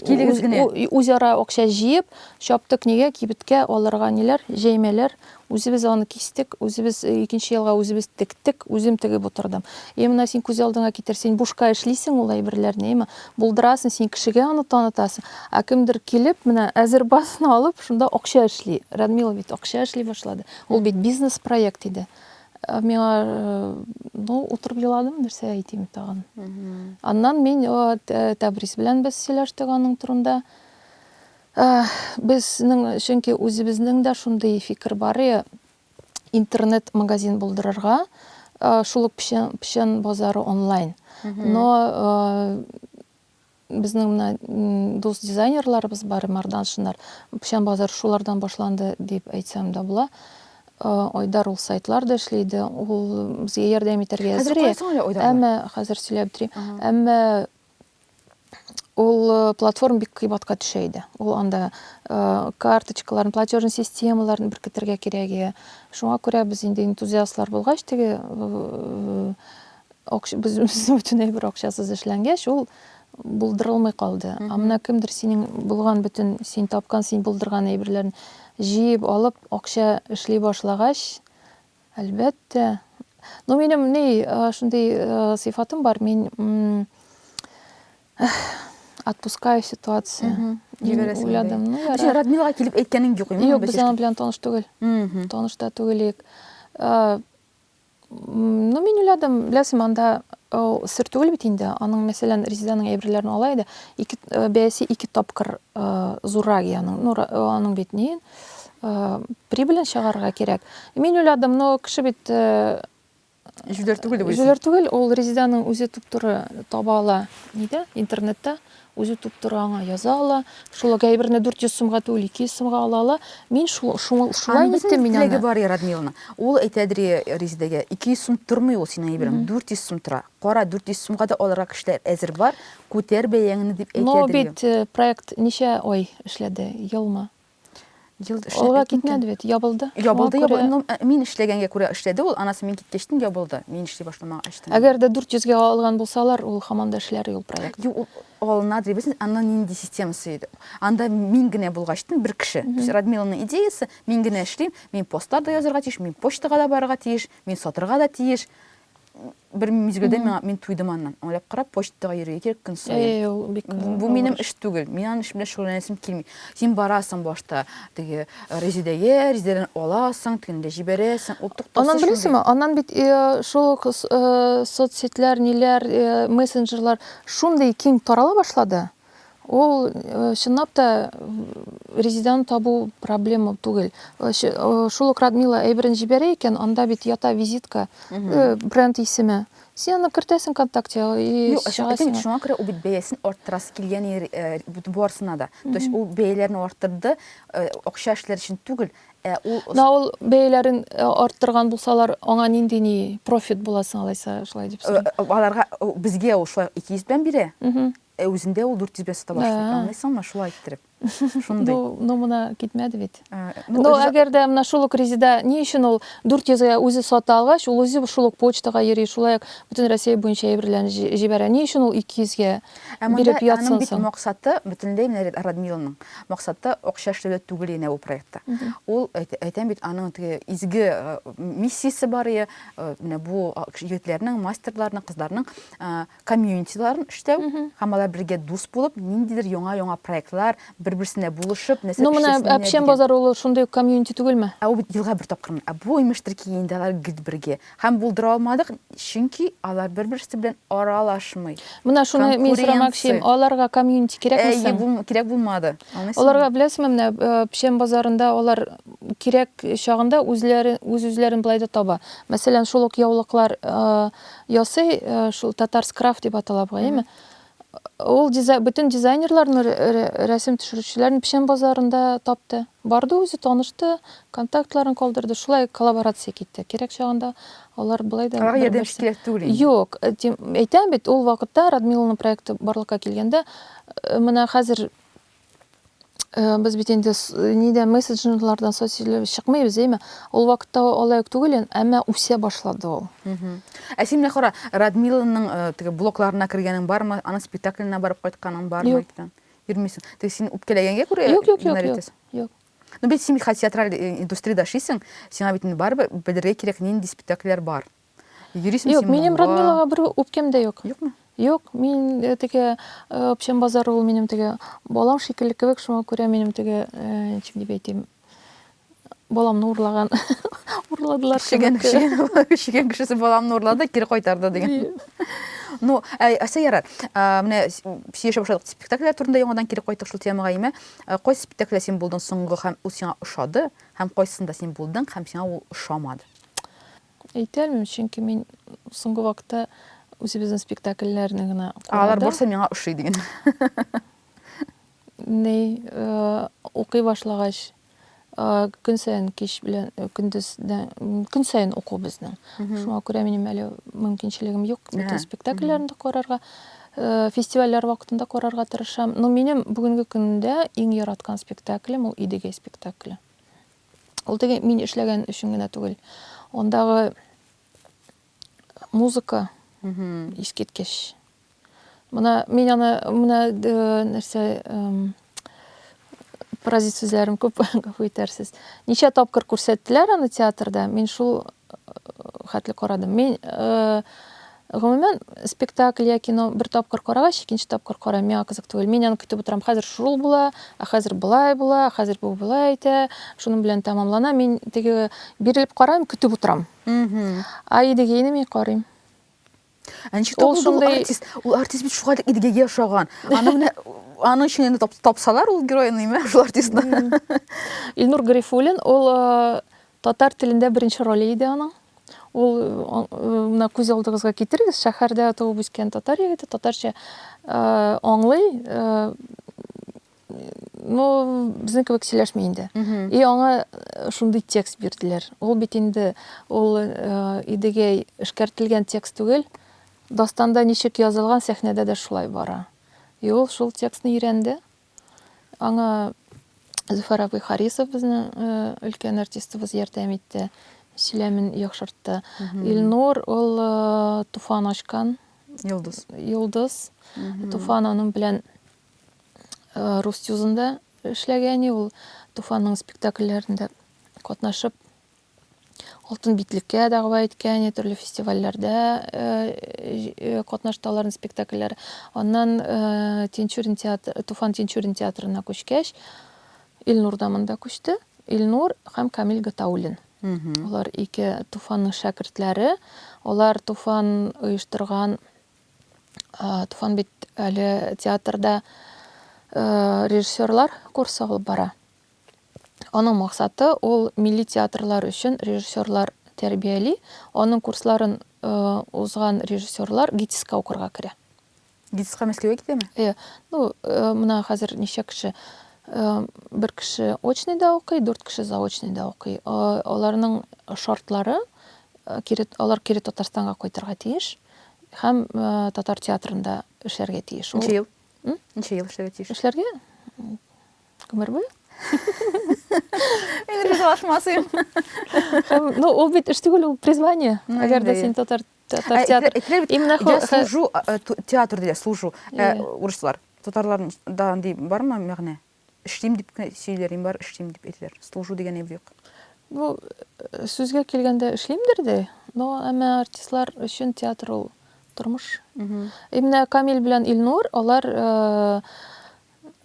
килегез генә. Үзара акча җыеп, чаптык нигә кибеткә алырга ниләр, җәймәләр. Үзебез аны кистек, үзебез икенче елга үзебез тектек, үзем тегеп утырдым. Е, менә син күз алдыңа китер, син бушка эшлисең ул әйберләрне, яме, булдырасың, син кешегә аны танытасың, ә кемдер килеп, менә әзер базаны алып, шунда акча эшли. Радмила бит акча эшли башлады. Ул бит бизнес-проект иде. Ә миңа, ну, утырып еладым, нәрсә әйтим тагын. Аннан мин Тәбрис белән без сөйләштек аның турында. Безнең, чөнки үзебезнең дә шундый фикер бар и, интернет-магазин булдырырга, шул ук печән базары онлайн. Но безнең менә дус дизайнерларыбыз бар, Мардан, Шынар, печән базары шулардан башланды дип әйтсәм дә була. Айдар ул сайтлар да эшли иде, ул безгә ярдәм итәргә әзер и. Хәзер кая соң әле Айдар? Әмма хәзер сөйләп бетерим. Әмма ул э, платформа бик кыйбатка төшә иде ул анда э, карточкаларын платежный системаларын беркетергә кирәк иде шуңа күрә без инде энтузиастлар булгач теге э, без бөтенләй бер акчасыз эшләнгәч ул булдырылмый калды а менә кемдер синең булган бөтен син тапкан син булдырган әйберләрен җыеп алып акча эшли башлагач Әлбәттә. Ну, минем ни, шундый сыйфатым бар, мин отпускаю ситуация. Җибәрәсең. Уйладым. Ну, яра. Син Радмилга килеп әйткәнең юк инде. Юк, без аның белән таныш түгел. Таныш та түгел ик. Ну, мин уйладым, беләсең, анда сер түгел бит инде. Аның, мәсәлән, Резиданың әйберләрен ала иде. Ике бәясе ике тапкыр зуррак, ягъни, ну, аның бит ни? прибылен чыгарырга кирәк. Мин уйладым, но кеше бит Җүләр түгел дип уйлыйсың. Җүләр түгел, ул Резиданың үзе туп-туры таба ала. Нидә? Интернетта үзе туп-туры аңа яза ала. Шул гәйберне 400 сумга түгел, 200 сумга ала ала. Мин шул шул шулай иттем мин аны. Теләге бар Радмиловна. Ул әйтәдер Резидәгә, 200 сум тормый ул синең әйберең, 400 сум тора. Кара, 400 сумга да алырга кешеләр әзер бар. Күтәр бәяңне дип әйтәдер. Но бит э, проект ничә ай эшләде? Елмы? Ел эшләп Алга китмәде бит, ябылды. Ябылды, ябылды. Ну, э, мин эшләгәнгә күрә эшләде ул. Анасы мин киткәчтен ябылды. Мин эшли башламага эштән. Әгәр дә 400 гә алган булсалар, ул хаман да эшләр юл проект. Ю, алына дибесен, аны нинди система сөйде. Анда мин генә булгачтын бер кеше. То есть Радмиланың идеясы, мин генә эшлим, мин постлар да язарга тиеш, мин почтага да барырга тиеш, мин сатырга да тиеш. бер мизгелдә миңа мин туйдым аннан. Аңлап кара, почтага йөрергә кирәк көн саен. Бу минем эш түгел. Мин аның эш белән шөгыльләнәсем килми. Син барасың башта теге э, Резидәгә, Резидәдән аласың, тегендә җибәрәсең. Ул туктаусыз. Аннан беләсеңме? Аннан бит э, шул ук э, соцсетьләр, ниләр, мессенджерлар шундый киң тарала башлады. Ул чынлап та резидент табу проблема түгел. Шул ук Радмила әйберен җибәрә икән, анда бит ята визитка, бренд исеме. Син аны кертәсең ВКонтакте и Юк, чыгасың. Шуңа күрә ул бит бәясен арттырасы килгән барысына да. То есть ул бәяләрне арттырды, акча эшләр өчен түгел, ә ул Менә ул бәяләрен арттырган булсалар, аңа нинди ни профит була соң алайса, шулай дип сорыйм. Аларга безгә ул шулай 200 белән бирә. Ә үзендә ул дүрт йөз бәс табак шул, аңлыйсыңмы, шулай иттереп. Шундый. Ну, ну моны китмәде бит. Ну, ну әгәр дә менә шул ук Резеда ни өчен ул 400-гә үзе сата алгач, ул үзе шул ук почтага йөри, шулай ук бөтен Россия буенча әйберләрен җибәрә. Ни өчен ул 200-гә биреп ятсын соң? Аның бит максаты бөтенләй менә Радмиланың максаты акча эшләүдә түгел генә бу проектта. Ул әйтәм бит аның теге изге миссиясе бар ие, менә бу егетләрнең, мастерларның, кызларның комьюнитиларын эштәү һәм алар бергә дус булып ниндидер яңа яңа проектлар бер берсенә булышып нәрсә ну менә әпчән базары ул шундый ук комьюнити түгелме ә ул елга бер тапкыр ә бу имештер ки инде алар гел бергә һәм булдыра алмадык чөнки алар бер берсе белән аралашмый менә шуны мин сорамакчы идем аларга комьюнити кирәкме соң бу кирәк булмады аларга беләсеңме менә э, печән базарында алар кирәк чагында үзләре үз үзләрен былай да таба мәсәлән шул ук яулыклар э, Ясый, шул татарскрафт дип атала бу, әйме? Ул бөтен дизайнерларны, рәсем төшерүчеләрне печән базарында тапты. Барды үзе, танышты, контактларын калдырды. Шулай коллаборация китте. Кирәк чагында алар былай да... Алар ярдәм кирәк түгел инде. Юк, э, әйтәм бит, ул вакытта Радмиловның проекты барлыкка килгәндә, э, менә хәзер Э, без бит инде нидә мессенджерлардан социаль чыкмыйбыз әйме ул вакытта алай ук түгел әмма үсә башлады ул ә син менә кара радмиланың э, теге блокларына кергәнең бармы аның спектакленә барып кайтканың бармы юк йөрмисең теге син үпкәләгәнгә күрә юк юк юк юк ну бит син бит театраль э, индустриядә эшлисең сиңа бит инде барыбер белергә кирәк нинди спектакльләр бар Йөрисең Юк, син минем монда. Радмилага бер үпкәм дә юк. Юкмы? Юк, мин э, теге э, общем базар ул минем теге балам шикелле кебек, шуңа күрә минем теге э, ничек дип әйтим, баламны урлаган. Урладылар Шеген, кебек. шеген, шеген кешесе баламны урлады, кире кайтарды деген. Ну, ә, әсә ярар. Ә, менә с- сөйләшә башладык спектакльләр турында яңадан кире кайттык шул темага име. Ә, Кайсы спектакльдә син булдың соңгы һәм ул сиңа ошады, һәм кайсында син булдың һәм сиңа ул ошамады? Әйтә алмыйм, чөнки мин соңгы вакытта үзебезнең спектакльләрне генә карадым. Алар барысы миңа ошый диген. Ни, укый башлагач, көн саен кич белән көндездән көн саен уку безнең. Шуңа күрә минем әле мөмкинчелегем юк бөтен спектакльләрне дә карарга. Фестивальләр вакытында карарга тырышам. Но минем бүгенге көндә иң яраткан спектаклем ул Идегәй спектакле. Ул теге мин эшләгән өчен генә түгел. Ондагы музыка искиткеч. Менә мин аны менә э, нәрсә паразит сүзләрен күп гафу итәрсез. Ничә тапкыр күрсәттеләр аны театрда, мин шул э, хәтле карадым. Мин э, Гомумән, спектакль я кино бер тапкыр карагач, икенче тапкыр карау миңа кызык түгел. Мин аны көтеп утырам, хәзер шул була, ә хәзер болай була, ә хәзер бу болай әйтә, шуның белән тәмамлана. Мин теге бирелеп карыйм, көтеп утырам. Ә Идегейны мин карыйм. Ә ничек табылды ул артист? Ул артист бит шулай Идегейгә ошаган. Аны менә аның өчен инде тапсалар ул геройны, имә, шул артистны. Илнур Гарифуллин, ул Татар телендә беренче роле иде аның. Ул менә күз алдыгызга китерегез, шәһәрдә туып үскән татар егете, татарча аңлый, ну, безнең кебек сөйләшми инде. И аңа шундый текст бирделәр. Ул бит инде ул идегәй эшкәртелгән текст түгел. Дастанда ничек язылган, сәхнәдә дә шулай бара. И ул шул текстны өйрәнде. Аңа Зөфәр абый Харисов безнең э, өлкән артистыбыз ярдәм итте, сөйләмен яхшыртты. Илнур ул э, туфан ачкан Йолдыз. йолдыз. Туфан аның белән э, Рустюзында эшләгән, и, ул Туфанның спектакльләрендә катнашып Алтын битлеккә дәгъва иткән, я төрле фестивальләрдә катнашты аларның спектакльләре. Аннан Тинчурин театры, Туфан Тинчурин театрына күчкәч, Илнур да монда күчте. Илнур һәм Камил Гатауллин. Алар ике Туфанның шәкертләре. Алар Туфан оештырган Туфан бит әле театрда режиссерлар курсы алып бара. Аның максаты, ул милли театрлар өчен режиссерлар тәрбияли. Аның курсларын узган режиссерлар ГИТИСка укырга керә. ГИТИСка Мәскәүгә китәме? Иә. Ну, менә хәзер ничә кеше? Бер кеше очныйда укый, дүрт кеше заочныйда укый. Аларның шартлары, алар кире Татарстанга кайтырга тиеш һәм татар театрында эшләргә тиеш. Ничә ел? Ничә ел эшләргә тиеш? Эшләргә? Гомер буе? Мин ризалашмасыйм. Һәм, ну, ул бит эш түгел, ул призвание. Ну, Әгәр дә инде, син татар татар Ә, театр. итле- итле бит, Именно хо- Я хо- служу, а, э, ту- театр диләр, служу. Э, Иә. Урыслар. Татарларның да андый бармы мәгънә? Эшлим дип кенә сөйлиләр, инде бар эшлим дип әйтәләр. Служу дигән әйбер юк. Ну, э, сүзгә килгәндә эшлимдер дә, но әмма артистлар өчен театр ул тормыш. Именно Камил белән Илнур, алар э,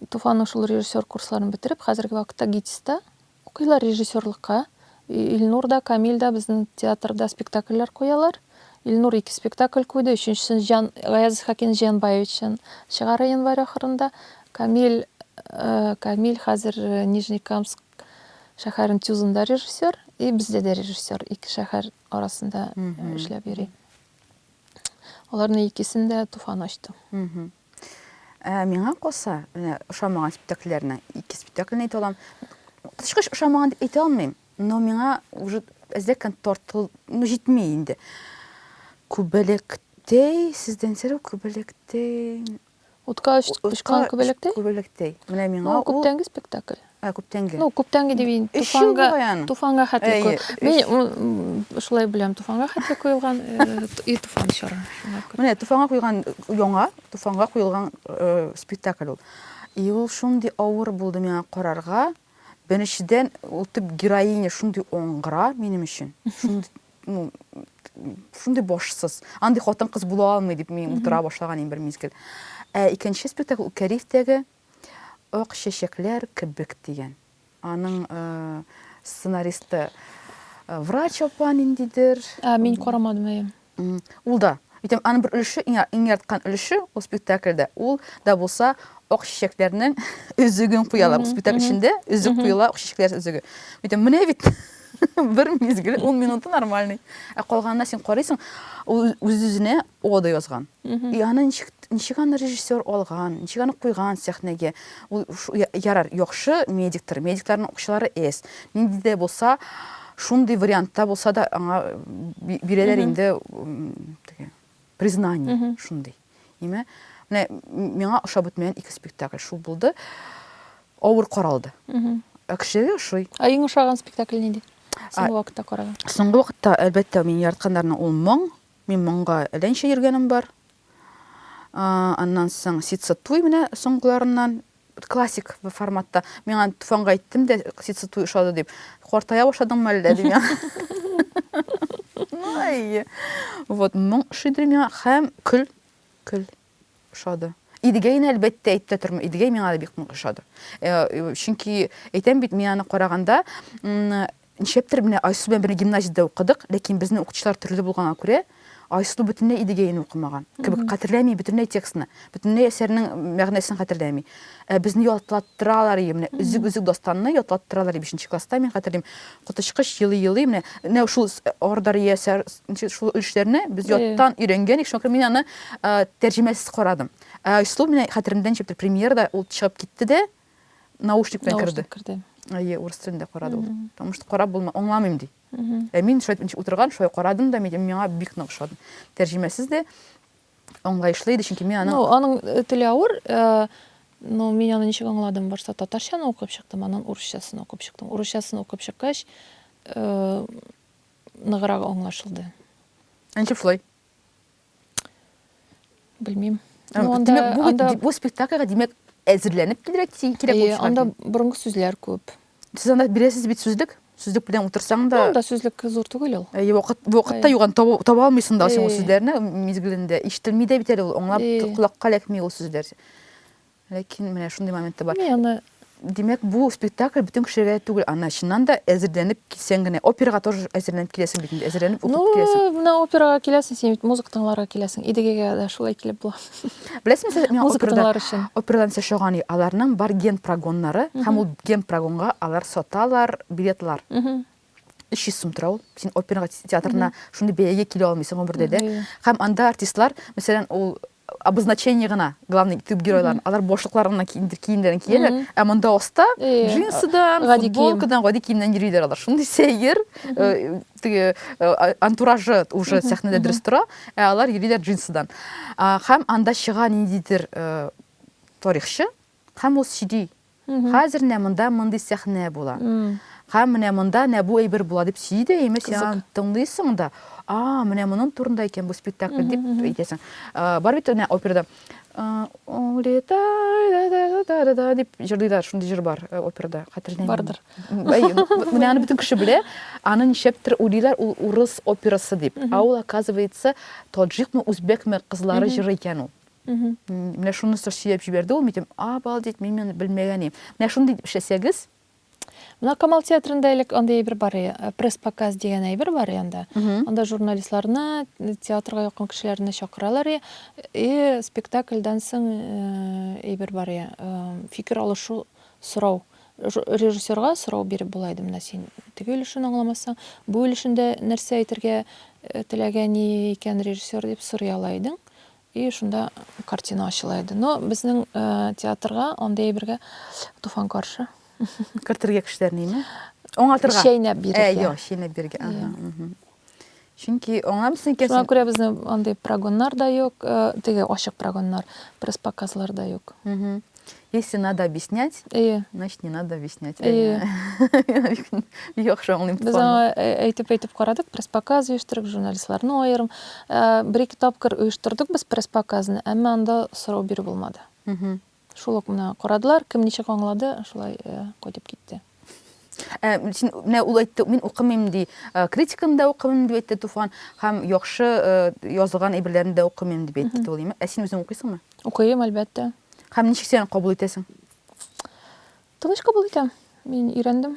Туфан ошол режиссер курсларын бетереп, хәзерге вакытта ГИТИСта укыйлар режиссерлыкка. Илнур да, Камил да безнең театрда спектакльләр куялар. Илнур ике спектакль куйды, өченчесен Җан Гаяз Исхакин Җианбаевичтан чыгара январь ахырында. Камил, Камил хәзер Нижнекамск шәһәрен Тюзында режиссер, и бездә дә режиссер, ике шәһәр арасында эшләп йөри. Аларны икесен дә Туфан ачты. Ә миңа калса, менә ошамаган спектакльләрнең ике спектакльне әйтә алам. Тышкыч ошамаган дип әйтә алмыйм, но миңа уже әзләккән тартыл, ну җитми инде. Күбәләктәй, сездән сәләм, Күбәләктәй. Утка очкан Күбәләктәй? Күбәләктәй. Менә миңа ул күптәнге спектакль. Ә күптәнге. Ну, күптәнге дип инде туфанга, туфанга хәтле куй. Мин шулай беләм, туфанга хәтле куелган и туфан чоры. Менә туфанга куйган яңа, туфанга куелган спектакль ул. И ул шундый авыр булды миңа карарга. Беренчедән, ул төп героиня шундый оңгыра минем өчен. Шундый, ну, шундый башсыз. Андый хатын-кыз була алмый дип мин утыра башлаган инде бер мизгел. Ә икенче спектакль Кәрифтәге Ак чәчәкләр кебек дигән. Аның сценаристы врач апа ниндидер. Ә, мин карамадым, әйе. Ул да. Әйтәм, аның бер өлеше, иң ярткан өлеше ул спектакльдә, ул да булса ак чәчәкләрнең өзеген куялар. Спектакль эчендә өзек куела, ак чәчәкләр өзеге. Әйтәм, менә бит бер мизгел, ун минуты нормальный. Ә калганына син карыйсың, ул үз-үзенә О да язган. И аны ничек, ничек аны режиссер алган, ничек аны куйган сәхнәгә. Ул ярар, яхшы медиктор, медикларның акчалары эс. Нинди дә булса, шундый вариантта булса да аңа бирәләр инде теге признание шундый. Ниме? Менә миңа ошап бетмәгән ике спектакль шул булды. Авыр каралды. Ә кешегә ошый. Ә иң ошаган спектакль нинди? Соңгы вакытта караган. Соңгы вакытта, әлбәттә, мин яратканнарның ул моң Мин монга әләнчә йөргәнем бар. Аннан соң ситса туй менә соңгыларыннан классик форматта. Мин аны Туфанга әйттем дә, ситса туй ошады дип. Картая башладыңмы әллә дим я. Ай. Вот моң шидер миңа һәм көл, көл. ошады. Идегәйне әлбәттә әйтә тормы, Идегәй миңа да бик нык ошады. Э, э, чөнки әйтәм бит, мин аны караганда ничәптер менә Айсу белән бер гимназиядә укыдык, ләкин безнең укытучылар төрле булганга күрә, Айсу бөтенләй Идегәйне укымаган. Кебек хәтерләми бөтенләй текстны, бөтенләй әсәрнең мәгънәсен хәтерләми. Ә безне ятлаттыралар ие, менә Өзек Өзек дастанны ятлаттыралар ие бишенче класста, мин хәтерлим, коточкыч елый-елый менә менә шул Ордар ие сәр шул өлешләрне без яттан өйрәнгән ик, шуңа күрә мин аны тәрҗемәсез карадым. Ә Айсылу менә хәтеремдә ничек бер премьерада ул чыгып китте дә, наушник белән керде. Наушник керде. Ие, урыс телендә карады ул. Потому что карап булма, аңламыйм ди. Ә мин шулай итеп утырган, шулай карадым да, миңа бик нык ошады. Тәрҗемәсез дә аңлаешлы иде, чөнки мин аның Ну, аның э, теле авыр, э, ну, мин аны ничек аңладым, башта татарчаны укып чыктым, аннан урысчасын укып чыктым. Урысчасын укып чыккач, э, ныграк аңлашылды. Ә ничек шулай? Белмим. Ә, Ну, анда, димәк, бу, бит- анда, ди- бу спектакльгә димәк әзерләнеп килергә ки- кирәк Әйе, булып чыгар. анда борынгы сүзләр күп. Сез анда бирәсез бит сүзлек. Сүзлек белән утырсаң да. Анда сүзлек зур түгел ул. Әйе, вакыт вакытта юган таба, таба алмыйсың да син ул сүзләрне мизгелендә. Ишетелми дә бит әле ул, аңлап колакка эләкми ул сүзләр. Ләкин менә шундый момент та бар. Мин аны Димәк, бу спектакль бөтен кешегә түгел, ана чыннан да әзерләнеп килсәң генә. Операга тоже әзерләнеп киләсең бит инде, әзерләнеп укып киләсең. Ну, менә операга киләсең, син бит музыка тыңларга киләсең. Идегегә дә шулай килеп була. Беләсеңме, сез миңа операдан өчен. Операдан сез шоган аларның бар ген прогоннары, һәм ул ген прогонга алар саталар, билетлар. 300 сум тора ул. Син опера театрына шундый бәягә килә алмыйсың гомердә дә. Һәм анда артистлар, мәсәлән, ул обозначение гына, главный төп геройларын, алар башлыклар гына киемнәрен кияләр, ә монда оста джинсыдан, футболкадан, гади киемнән йөриләр алар. Шундый сәер, теге э, антуражы уже сәхнәдә дөрес тора, ә алар йөриләр джинсыдан. Һәм анда чыга ниндидер э, тарихчы, һәм ул сөйли. Хәзер менә монда мондый сәхнә була. Һәм менә монда менә бу әйбер була дип сөйли дә, имеш, син тыңлыйсың да, а, менә моның турында икән бу спектакль дип әйтәсең. Бар бит менә операда улетай да да да да да дип җырлыйлар, шундый җыр бар э, операда, хәтерләмим. Бардыр. Менә аны бөтен кеше белә. Аны ничектер уйлыйлар, ул урыс операсы дип. Ә ул, оказывается, таджикмы, үзбәкме кызлары җыры икән ул. Менә шуны сөйләп җибәрде ул, мин обалдеть, мин моны белмәгән идем. Менә шундый итеп эшләсәгез, Менә Камал театрында элек андый әйбер бар иде, э, пресс-показ дигән әйбер бар иде анда. Анда журналистларны, э, театрга якын кешеләрне чакыралар и, и спектакльдан соң э, әйбер бар иде, фикер алышу, сорау. Режиссерга сорау биреп була иде, менә син теге өлешен аңламасаң, бу өлешендә нәрсә әйтергә теләгәни икән режиссер дип сорый ала идең. И шунда картина ачыла иде. Но безнең театрга андый әйбергә туфан каршы. Кертергә кешеләрне име? Аңлатырга. Чәйнәп бирергә. Ә, я, чәйнәп бирергә. Ага. Чөнки аңа безнеке Шуңа күрә безне андый прогоннар да юк, теге ачык прогоннар, пресс-показлар да юк. Если надо объяснять, Әйе. значит не надо объяснять. Әйе. Яхшы аңлыйм. Без аңа әйтеп-әйтеп карадык, пресс-показ оештырып, журналистларны аерым. Бер-ике тапкыр оештырдык без пресс-показны, әмма анда сорау бирү булмады. Шул ук менә карадылар, кем ничек аңлады, шулай кайтып китте. Ә, син менә ул әйтте, мин укымыйм ди. Э, критиканы да укымыйм дип әйтте Туфан, һәм яхшы э, язылган әйберләрне дә укымыйм дип әйтте Тулима. Ә син үзең укыйсыңмы? Укыйм, әлбәттә. Һәм ничек син аны кабул итәсең? Тыныч кабул итәм. Мин өйрәндем.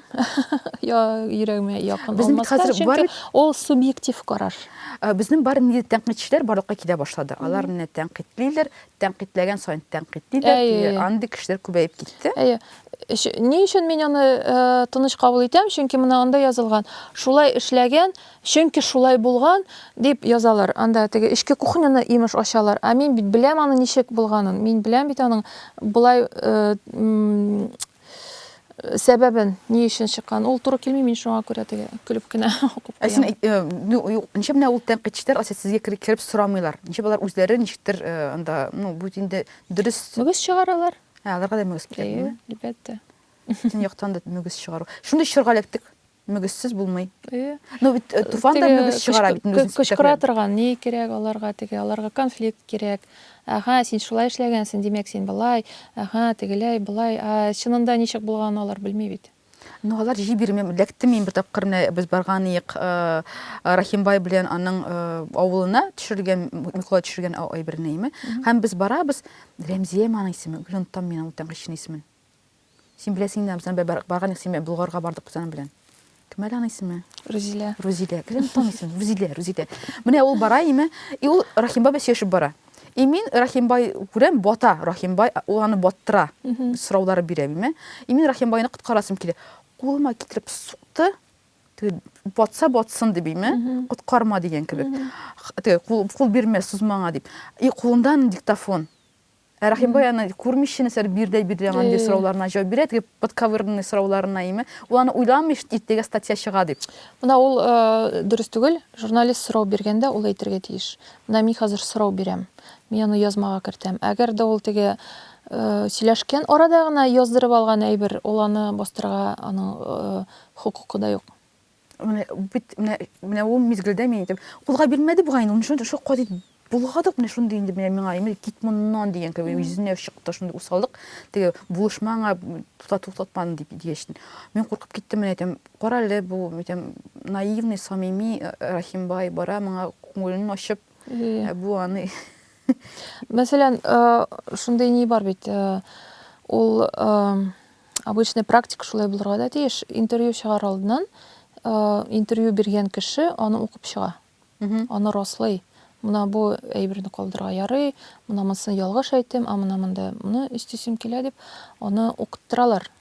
Я йөрәгемә якын Безнең бит алмаска, хәзер чөнки бар- ул субъектив карар. Ә, Безнең бар нинди тәнкыйтьчеләр барлыкка килә башлады. Алар менә тәнкыйтьлиләр, тәнкыйтьләгән саен тәнкыйтьлиләр. Әйе, Теге әйе. андый кешеләр күбәеп китте. Әйе. Өч- Ни өчен мин аны э, тыныч кабул итәм? Чөнки менә анда язылган. Шулай эшләгән, Чөнки шулай булган, дип язалар. Анда теге эчке кухняны, имеш, ачалар. Ә мин бит беләм аның ничек булганын. Мин беләм бит аның болай сәбәбен, ни өчен чыккан. Ул туры килми, мин шуңа күрә теге көлеп кенә укып куям. Ә син ничә менә ул тәнкыйтьчеләр ася сезгә кереп сорамыйлар. Ничә болар үзләре ничектер анда, ну, бу инде дөрес. Мөгез чыгаралар. Ә, аларга да мөгез кирәк. Әйе, әлбәттә. Төн яктан да мөгез чыгару. Шундый чорга эләктек. мөгезсез булмый. Э, ну бит э, туфан да мөгез чыгара бит мөгез. Кычкыра торган ни кирәк аларга теге, аларга конфликт кирәк. Ага, син шулай эшләгәнсең, димәк син былай, ага, тегеләй, былай. А чынында ничек булганын алар белми бит. Ну алар җи бирми, ләкте мин бер тапкыр менә без барган иек э, Рахимбай белән аның авылына төшергән, Микола төшергән әйберне име. Һәм без барабыз, Рәмзия маның исеме, гүлен там мин ул тәңгәшне исемен. Син беләсең инде, Амсаны бер барган идек, син Болгарга бардык без аның белән. Кем әле аның исеме? Рузилә. Рузилә. Кем аның исеме? Рузилә, Рузилә. Менә ул бара име, и ул Рахимбай белән сөйләшеп бара. И мин Рахимбай күрәм, бата Рахимбай, ул аны баттыра, сораулары бирә име. И мин Рахимбайны коткарасым килә. Кулыма китереп сукты, батса батсын дип име, коткарма дигән кебек. Кул бирмә, сузмаңа дип. И кулындан диктофон. Ә Рахимбай аны күрмичә нәрсәләр бирдәй бирдәй аңа нинди сорауларына җавап бирә, теге подковырный сорауларына име. Ул аны уйламый, иртәгә статья чыга дип. Менә ул дөрес түгел. Журналист сорау биргәндә ул әйтергә тиеш. Менә мин хәзер сорау бирәм. Мин аны язмага кертәм. Әгәр дә ул теге сөйләшкән арада гына яздырып алган әйбер, ул аны бастырырга аның хокукы да юк. Менә бит менә менә ул мизгелдә мин әйтәм, кулга бирмәде бугай инде, ул шундый шок кадит булгадык менә шундый инде менә миңа имел кит моннан дигән кебек йөзенә чыкты шундый усаллык теге булышма аңа тута туктатман дип дигәч мин куркып киттем менә әйтәм кара әле бу әйтәм наивный самими э, рахимбай бара моңа күңелен ачып ә бу аны мәсәлән э, шундый ни бар бит э, ул Обычный практика шулай булырга да тиеш. Интервью чыгар алдыннан интервью биргән кеше аны укып чыга. Аны раслый. Мына бу әйберне калдырырга ярый, мына монысын ялгыш әйттем, а мына монда моны өстисем килә дип, аны укыттыралар.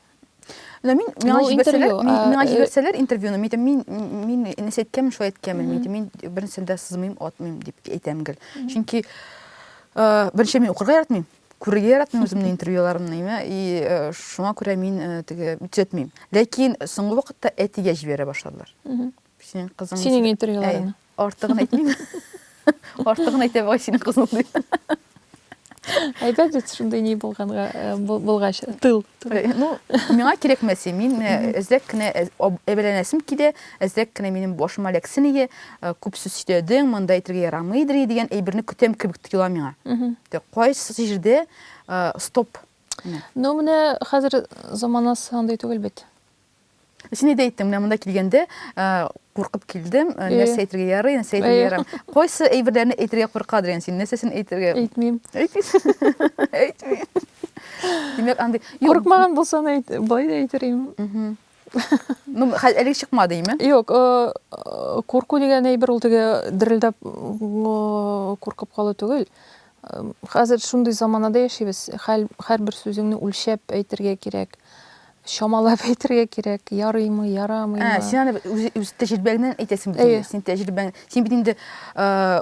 Менә мин миңа җибәрсәләр, миңа җибәрсәләр интервьюны, мин әйтәм, мин мин нәрсә әйткәнмен, шулай әйткәнмен, мин әйтәм, мин бернәрсәдә сызмыйм, атмыйм дип әйтәм гел. Чөнки беренче мин укырга яратмыйм. Күрергә яратмыйм үземнең интервьюларымны, имә, и э, шуңа күрә мин э, теге үтсәтмим. Ләкин соңгы вакытта әтигә җибәрә башладылар. Синең кызың. Синең интервьюларыңны. Артыгын әйтмим. Артыгын әйтә бай синең кызың ди. Әйбәт бит шундый ни булганга э, булгач тыл. Э, ну, миңа кирәкмәсе, мин эзләп кенә әбәләнәсем килә, Әзрәк кенә минем башыма ләксен ие, күп сүз сөйләдең, монда әйтергә ярамыйдыр ие дигән әйберне көтәм кебек тоела миңа. Тә, кайсы җирдә стоп? Менә. Ну, менә хәзер заманасы андый түгел бит. Син әйдә әйттең, менә монда килгәндә куркып килдем, Ие. нәрсә әйтергә ярый, нәрсә әйтергә Ие. ярамый. Кайсы әйберләрне әйтергә курка дигән син, нәрсәсен әйтергә? Әйтмим. Әйтмисең. Әйтмим. Димәк, андый Юк. Курыкмаган булсам әйт, болай да әйтер идем. Мгм. Ну, әле чыкмады име? Юк, э, э, курку дигән әйбер ул теге дерелдәп э, куркып калу түгел. Хәзер шундый заманада яшибез. Һәрбер сүзеңне үлчәп әйтергә кирәк. Чамалап әйтергә кирәк. Ярыймы, ярамыймы? Ә, син аны үз, үз тәҗрибәңнән әйтәсең бит. Син тәҗрибәң, син бит инде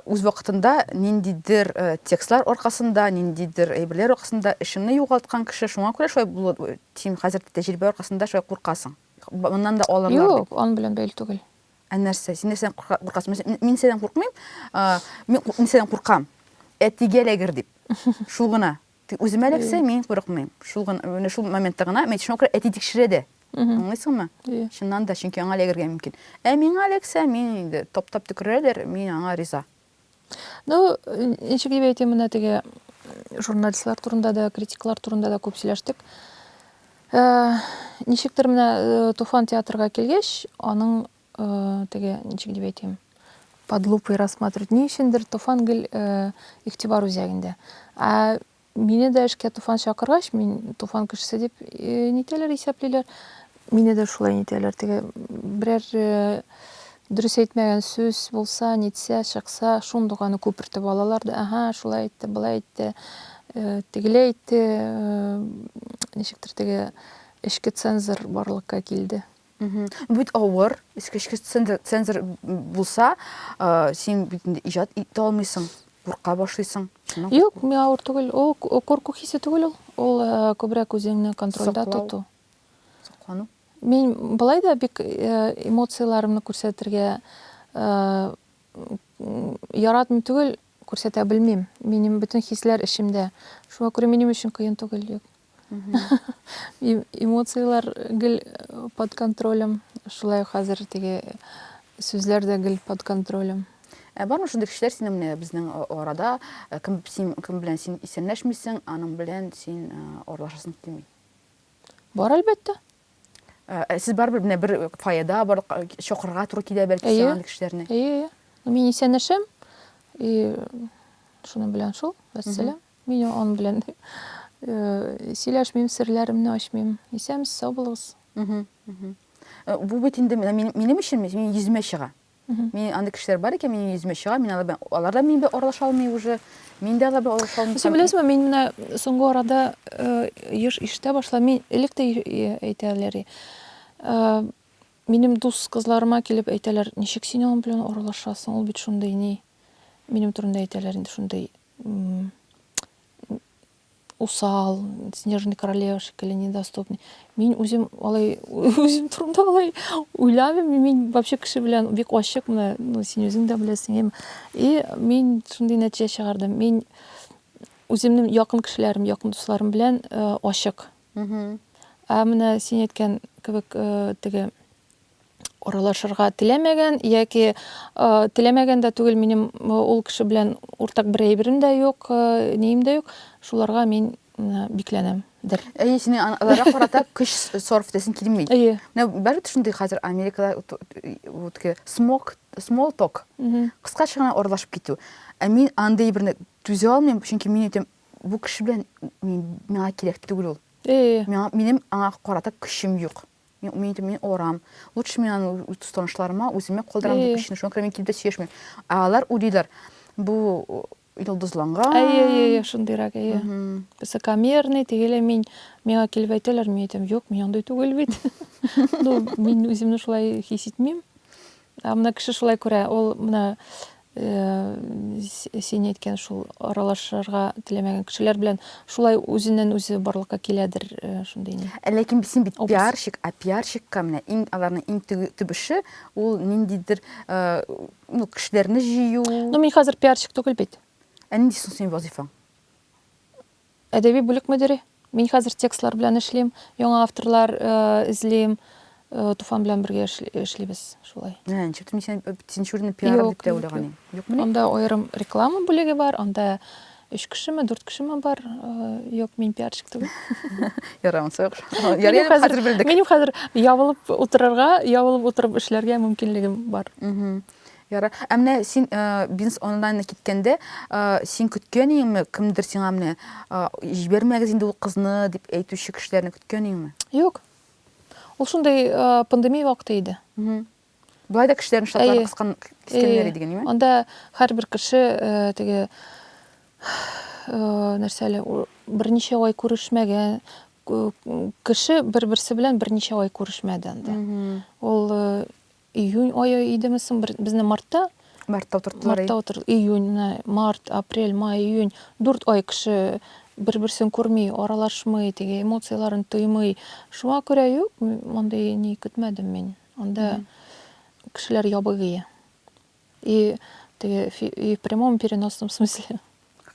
үз вакытында ниндидер текстлар аркасында, ниндидер әйберләр аркасында эшеңне югалткан кеше, шуңа күрә шулай булды Син хәзер тәҗрибә аркасында шулай куркасың. Моннан да алырлар дип. Юк, ан белән бәйле түгел. Ә нәрсә? Син нәрсәдән куркасың? Мин нәрсәдән куркмыйм? Мин нәрсәдән куркам? Әтигә эләгер дип. Шул гына. Тик үземә эләксә, мин курыкмыйм. Шул гына, менә шул моментта гына, мин шуңа күрә әти тикшерә дә. Аңлыйсыңмы? Чыннан да, чөнки аңа эләгергә мөмкин. Ә миңа эләксә, мин инде таптап төкерәләр, мин аңа риза. Ну, ничек дип әйтим, менә теге журналистлар турында да, критиклар турында да күп сөйләштек. Э, ничектер менә э, Туфан театрга килгәч, аның э, теге ничек дип әйтим, под лупой рассматривать. Ни өчендер Туфан гел игътибар үзәгендә. Ә Мине дә эшкә Туфан чакыргач, мин Туфан кешесе дип нитәләр, исәплиләр. Мине дә шулай нитәләр. Теге берәр дөрес әйтмәгән сүз булса, нитсә, чыкса, шундук аны күпертеп алалар да, ага, шулай әйтте, былай әйтте, тегеләй әйтте, ничектер теге эчке цензор барлыкка килде. Ну бит авыр, эчке эчке цензор, цензор булса, э, син бит инде иҗат итә алмыйсың, курка башлыйсың. Шуннан Юк, курку. миңа авыр түгел. Ул к- курку хисе түгел ул. Ул э, күбрәк үзеңне контрольдә Саклау. тоту. Соклану. Мин былай да бик э, эмоцияләремне күрсәтергә э, м, яратмый түгел, күрсәтә белмим. Минем бөтен хисләр эчемдә. Шуңа күрә минем өчен кыен түгел. Юк. Эмоцияләр гел под контролем. Шулай ук хәзер теге сүзләр дә гел под контролем. Ә бармы шундый кешеләр синең менә безнең арада, кем син кем белән син исәнләшмисең, аның белән син аралашасың килми? Бар әлбәттә. Ә сез барыбер менә бер фойеда бар чакырырга туры килә бәлки сиңа андый кешеләрне? Әйе, әйе. Мин исәнләшәм. И шуның белән шул, вәссәлам. Мин ан белән сөйләшмим, серләремне ачмыйм. Исәмсез, сау булыгыз. Бу бит инде минем өчен минем йөземә чыга. Мин андый кешеләр бар икән, минем йөземә чыга, мин алар белән алар да минем белән аралаша алмый уже. Мин дә алар белән аралаша алмыйм. Син беләсеңме, мин менә соңгы арада еш ишетә башладым. Мин элек тә әйтәләр иде. Минем дус кызларыма килеп әйтәләр, ничек син аның белән аралашасың, ул бит шундый ни. Минем турында әйтәләр инде шундый. усал, снежный королева шикелле недоступный. Мин үзем алай үзем турында алай уйламыйм. Мин вообще кеше белән бик ачык менә, ну син үзең дә беләсең. И мин шундый нәтиҗә чыгардым. Мин үземнең якын кешеләрем, якын дусларым белән э, ачык. Ә менә син әйткән кебек э, теге аралашырга теләмәгән яки э, теләмәгән дә түгел минем э, ул кеше белән уртак бер әйберем дә юк э, нием дә юк шуларга мин э, бикләнәм дер Әйе, сине ан- аларга карата көч сарыф итәсең килми. әйе Менә бәрбит шундый хәзер Америкада ут- вот ке- смок, small talk, Мгм. кыскача гына аралашып китү. Ә мин андый берне түзә алмыйм, чөнки мин әйтәм, бу кеше белән мин, миңа кирәк түгел ул. әйе Миңа, минем аңа карата көчем юк. Мин, мин, мин орам. Лучше мин аны танышларыма үземә калдырам дип өчен, шуңа күрә мин килеп тә сөйләшмим. Ә алар уйлыйлар, бу йолдызланган. Әйе, әйе, әйе, шундыйрак, әйе. Высокомерный, тегеле мин, миңа килеп әйтәләр, мин әйтәм, юк, мин андый түгел бит. Ну, мин үземне шулай хис итмим. Ә менә кеше шулай күрә, ул менә син әйткән шул аралашырга теләмәгән кешеләр белән шулай үзеннән үзе барлыкка киләдер шундый ни ләкин син бит пиарщик а пиарщикка менә иң аларның иң төп эше ул ниндидер ну кешеләрне җыю ну мин хәзер пиарщик түгел бит ә нинди соң синең вазыйфаң Әдәби бүлек мөдире. Мин хәзер текстлар белән эшлим, яңа авторлар эзлим. Туфан белән бергә эшлибез шулай. Ә, ничек мин син син шүрне пиар дип тә уйлаган идем. Юкмы? Анда аерым реклама бүлеге бар, анда 3 кешеме, 4 кешеме бар. Юк, мин пиарщик түгел. Ярый, ансы юк. Ярый, хәзер белдек. Минем хәзер ябылып утырырга, ябылып утырып эшләргә мөмкинлегем бар. Ярар. Ә менә син бизнес онлайнына киткәндә, син көткән идеңме, кемдер сиңа менә җибәрмәгез инде ул кызны дип әйтүче кешеләрне көткән идеңме? Юк. Ул шундый пандемия вакыты иде. Болай да кешеләрнең штатлары кыскан кискәннәр иде генеме? Анда һәрбер кеше теге нәрсә әле берничә ай күрешмәгән кеше бер-берсе белән берничә ай күрешмәде анда. Ул Июнь айы идеме соң бер- безне мартта Мартта утырттылар. мартта утыр июнь менә март апрель май июнь дүрт ай кеше бер берсен күрми аралашмый теге эмоцияләрен тоймый шуңа күрә юк м- мондый ни көтмәдем мин анда кешеләр ябыгые И теге и в прямом переносном смысле.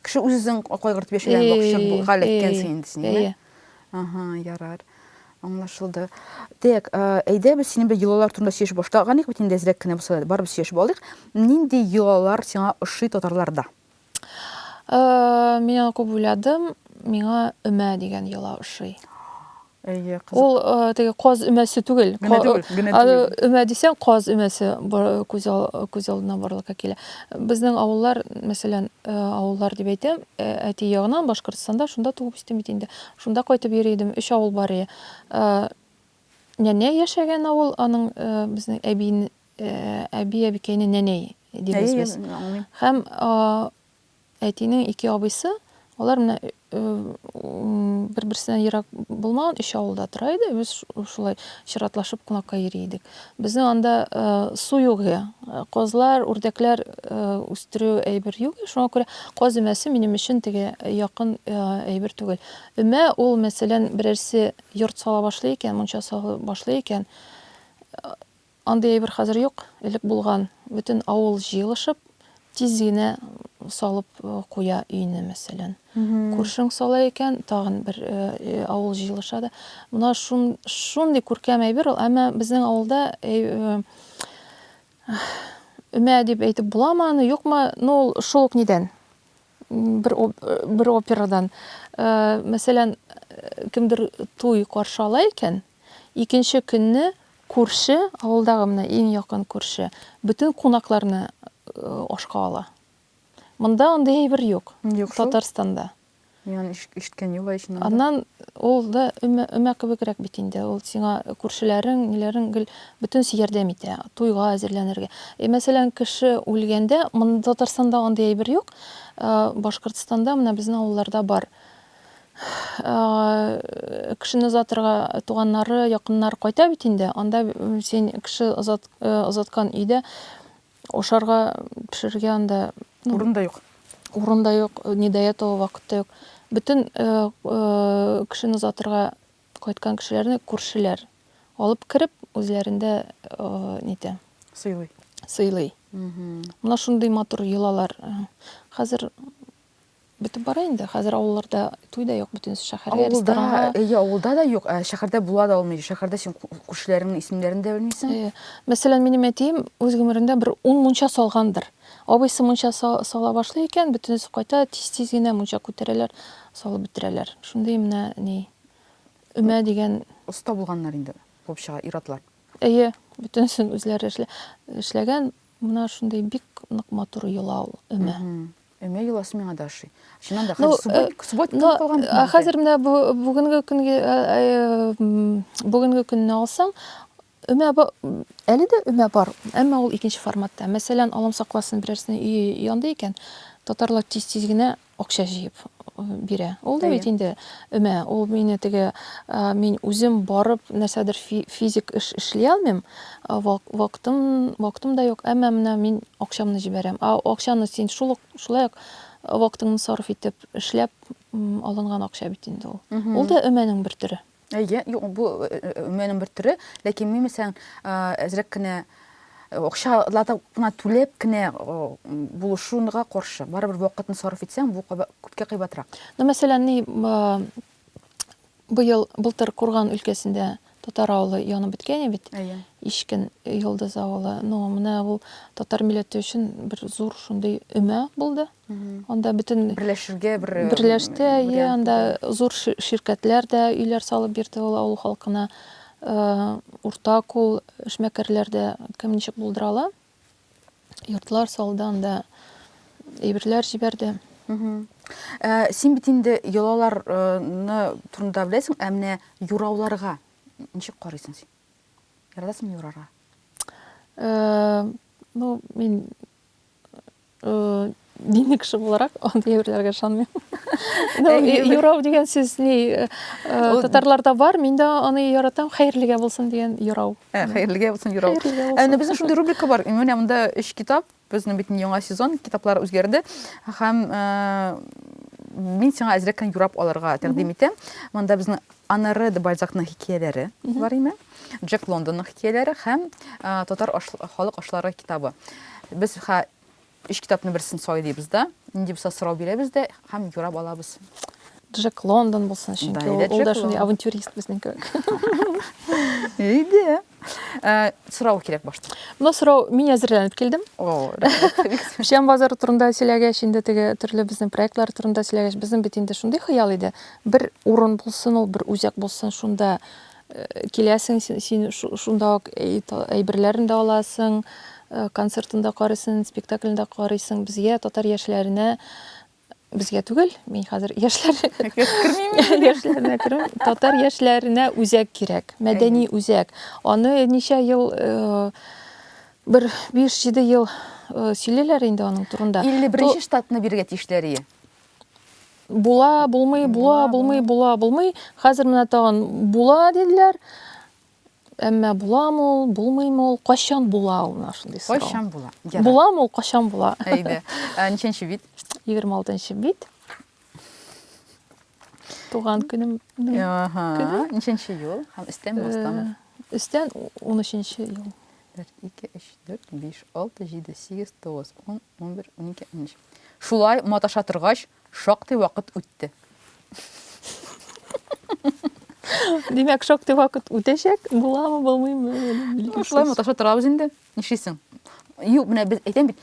Кеше үзен кайгыртып яшәгән вакыт галәт икәнсең инде син. Әйе. Ага, ярар. Аңлашылды. Так, әйдә без синең белән йолалар турында сөйләшеп башлаганик бит инде әзрәк кенә булса да, барыбыз сөйләшеп алыйк. Нинди йолалар сиңа ошый татарларда? Э, мин аны күп уйладым, миңа өмә дигән йола ошый. Әйе, кызык. Ул э, теге каз өмәсе түгел. Генә түгел, генә Аны түгел. өмә дисәң, каз өмәсе бар- күз ал- күз алдына барлыкка килә. Безнең авыллар, мәсәлән, э, авыллар дип әйтәм, э, әти ягынан Башкортстанда, шунда туып үстем бит инде. Шунда кайтып йөри идем, өч авыл бар иде. Э, Нәнә яшәгән авыл, аның э, безнең әбин, Әби-әбекәйне нәнәй дибез без. Әйе, аңлыйм. Һәм әтинең ике абыйсы, алар менә бер-берсеннән ерак булмаган өч авылда тора иде. Без шулай чиратлашып кунакка йөри идек. Безнең анда су юк иде. Казлар, үрдәкләр үстерү әйбер юк иде. Шуңа күрә каз өмәсе минем өчен теге якын әйбер түгел. Өмә ул, мәсәлән, берәрсе йорт сала башлый икән, мунча сала башлый икән, Андый әйбер хәзер юк, элек булган, бөтен авыл җыелышып, тиз генә салып куя өйне, мәсәлән. Күршең сала икән, тагын бер авыл җыелыша да. Менә шундый күркәм әйбер ул, әмма безнең авылда өмә дип әйтеп буламы аны, юкмы, ну ул шул ук нидән. бер бер операдан мәсәлән кемдер туй каршы ала икән икенче көнне күрше авылдагы менә иң якын күрше бөтен кунакларны ашка ала монда андый әйбер юк юк татарстанда Мин ишеткән юк ичен аннан ул да өмә кебегрәк бит инде ул сиңа күршеләрең ниләрең гел Бөтенесе ярдәм итә, туйга әзерләнергә. Э, мәсәлән, кеше үлгәндә, монда Татарстанда андый әйбер юк. Э, Башкортстанда менә безнең авылларда бар. Э, кешене озатырга туганнары, якыннар кайта бит инде. Анда син кеше озат, э, озаткан өйдә ашарга, пешерергә анда ну, урын да юк. Урын да юк, не до этого вакыт та юк. Бөтен э, э, кешене озатырга Кайткан кешеләрне күршеләр алып кереп, үзләрендә нитә. Сыйлый. Сыйлый. Менә шундый матур йолалар. Хәзер бетеп бара инде. Хәзер авылларда туй да юк, бөтен шәһәргә ресторанга. Әйе, авылда да юк, ә шәһәрдә була да алмый. Шәһәрдә син күршеләреңнең исемнәрен дә белмисең. Әйе. Мәсәлән, минем әтием үз гомерендә бер 10 мунча салгандыр. Абыйсы мунча сала башлый икән, бөтенесе кайта, тиз-тиз генә мунча күтәрәләр, салып бетерәләр. Шундый менә ни, өмә дигән. Оста булганнар инде куып чыга ир-атлар. Әйе, бөтенесен үзләре эшләгән. Менә шундый бик нык матур йола ул өмә. Өмә йоласы миңа да ошый. Чыннан да, хәзер субботник булып калган бит. Хәзер менә бүгенге көнгә, бүгенге көнне алсаң, Өмә ба... әле дә өмә бар, әмма ул икенче форматта. Мәсәлән, Аллам сакласын, берәрсенең өе янды икән, татарлар тиз-тиз генә акча җыеп бирә. Ул да бит инде өмә. Ул мине теге, мин үзем барып нәрсәдер физик эш эшли алмыйм, вакытым, вакытым да юк, әмма менә мин акчамны җибәрәм. Ә акчаны син шул ук, шулай ук вакытыңны сарыф итеп эшләп алынган акча бит инде ул. Ул да өмәнең бер төре. Әйе, юк, бу өмәнең бер төре, ләкин мин мәсәлән әзрәк кенә акчалата гына түләп кенә булышуга каршы. Барыбер вакытны сарыф итсәң, бу күпкә кыйбатрак. Ну, мәсәлән, ни быел былтыр Курган өлкәсендә татар авылы янып беткән бит. Әйе. Ишкен Йолдыз авылы. Ну, менә ул татар милләте өчен бер зур шундый өмә булды. Анда бөтен берләшергә бер э, берләште, әйе, анда зур ширкәтләр дә өйләр салып бирде ул авыл халкына. Э, урта кул эшмәкәрләр дә кем ничек булдыра ала. Йортлар салды анда, әйберләр җибәрде. Э, син бит инде йолаларны турында беләсең, ә менә юрауларга ничек карыйсың син? Яратасыңмы юрарга? Ну, мин Дини кеше буларак, андый әйберләргә ышанмыйм. Юрау дигән сүз ни татарларда бар, мин дә аны яратам, хәерлегә булсын дигән юрау. Хәерлегә булсын юрау. Әнә безнең шундый рубрика бар. Менә монда өч китап, безнең бит яңа сезон, китаплар үзгәрде. Һәм мин сиңа әзрәк кенә юрап алырга тәкъдим итәм. Монда безнең Анары де Бальзакның хикәяләре бар име? Джек Лондонның хикәяләре һәм Татар халык ашлары китабы. Без ха өч китапны берсен сайлыйбыз да, нинди булса сорау бирәбез дә һәм юрап алабыз. Джек Лондон булсын, чөнки ул, ул да шундый авантюрист безнең кебек. Иде. Э, сорау кирәк башта. Бу сорау мин әзерләнеп килдем. О, Печән базары турында сөйләгәч, инде теге төрле безнең проектлар турында сөйләгәч, безнең бит инде шундый хыял иде. Бер урын булсын, ул бер үзәк булсын, шунда киләсең, син шунда ук әйберләрен дә аласың, концертын да карыйсың, спектаклен дә карыйсың. Безгә татар яшьләренә безгә түгел, мин хәзер яшьләр яшьләренә керим. Татар яшьләренә үзәк кирәк, мәдәни үзәк. Аны ничә ел бер 5-7 ел сөйлиләр инде аның турында. 51 нче штатны бирергә тиешләр ие. Була, булмый, була, булмый, була, булмый. Хәзер менә тагын була диделәр. Әмма буламы ул, булмыймы ул, кайчан була ул менә шундый сорау. Кайчан була? Ярар. Буламы ул, кайчан була? Әйдә. Ә, Ничәнче бит? 26 бит. Туган көнем. Аһа. Ничәнче ел? Һәм өстәме, астамы? Өстән 13 ел. Бер, ике, өч, дүрт, биш, алты, җиде, сигез, тугыз, ун, унбер, унике, унөч. Шулай маташа торгач, шактый вакыт үтте. Димәк, шактый вакыт үтәчәк, буламы, булмыймы? Шулай маташа торабыз инде. Нишлисең? Юк, менә без әйтәм бит,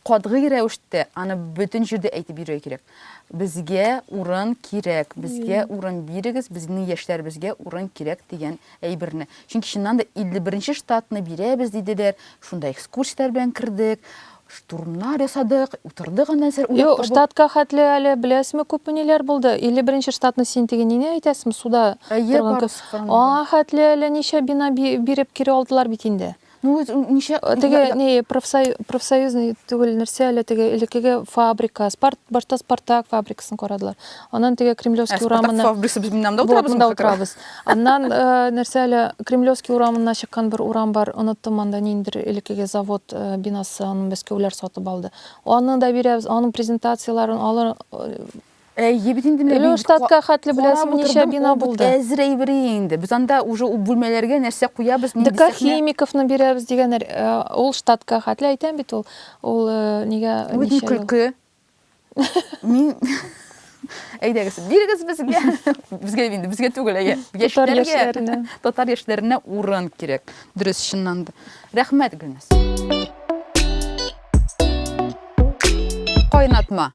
катгый рәвештә аны бөтен җирдә әйтеп йөрергә кирәк. Безгә урын кирәк, безгә урын бирегез, безнең яшьләребезгә урын кирәк дигән әйберне. Чөнки чыннан да 51 штатны бирәбез диделәр, шунда экскурсияләр белән кердек, штурмнар ясадык, утырдык анда нәрсәләр уйлап табып. Штатка хәтле әле беләсезме күпме ниләр булды? 51 штатны син теге нине әйтәсеме, суда торган кебек. Аңа хәтле әле ничә бина биреп кире алдылар бит инде. Ну, ничә... Теге, не, профсоюзный түгел, нәрсә әле теге, элекеге фабрика, спарт, башта Спартак фабрикасын карадылар. Аннан теге Кремлевский ә, урамына... Спартак фабрикасы без минамда отырабыз. Вот, отырабыз. Аннан э, нәрсә әле Кремлевский урамына чыккан бер урам бар, оныттым анда ниндер элекеге завод э, бинасы, аны мәскәүләр сатып алды. Аны да бирәбез, аның презентацияларын, алар э, Әйе бит инде менә Лёштатка хәтле беләсең ничә бина булды. Әзер әйбер инде. Без анда уже бүлмәләргә нәрсә куябыз, нинди сәхнә. ДК химиковны бирәбез дигәннәр. Ул штатка хәтле әйтәм бит ул. Ул нигә ничә көлке. Мин Әйдәгез, бирегез безгә. Безгә инде, безгә түгел, әйе. Татар яшьләренә. Татар яшьләренә урын кирәк. Дөрес, чыннан да. Рәхмәт, Гөлназ. Кайнатма.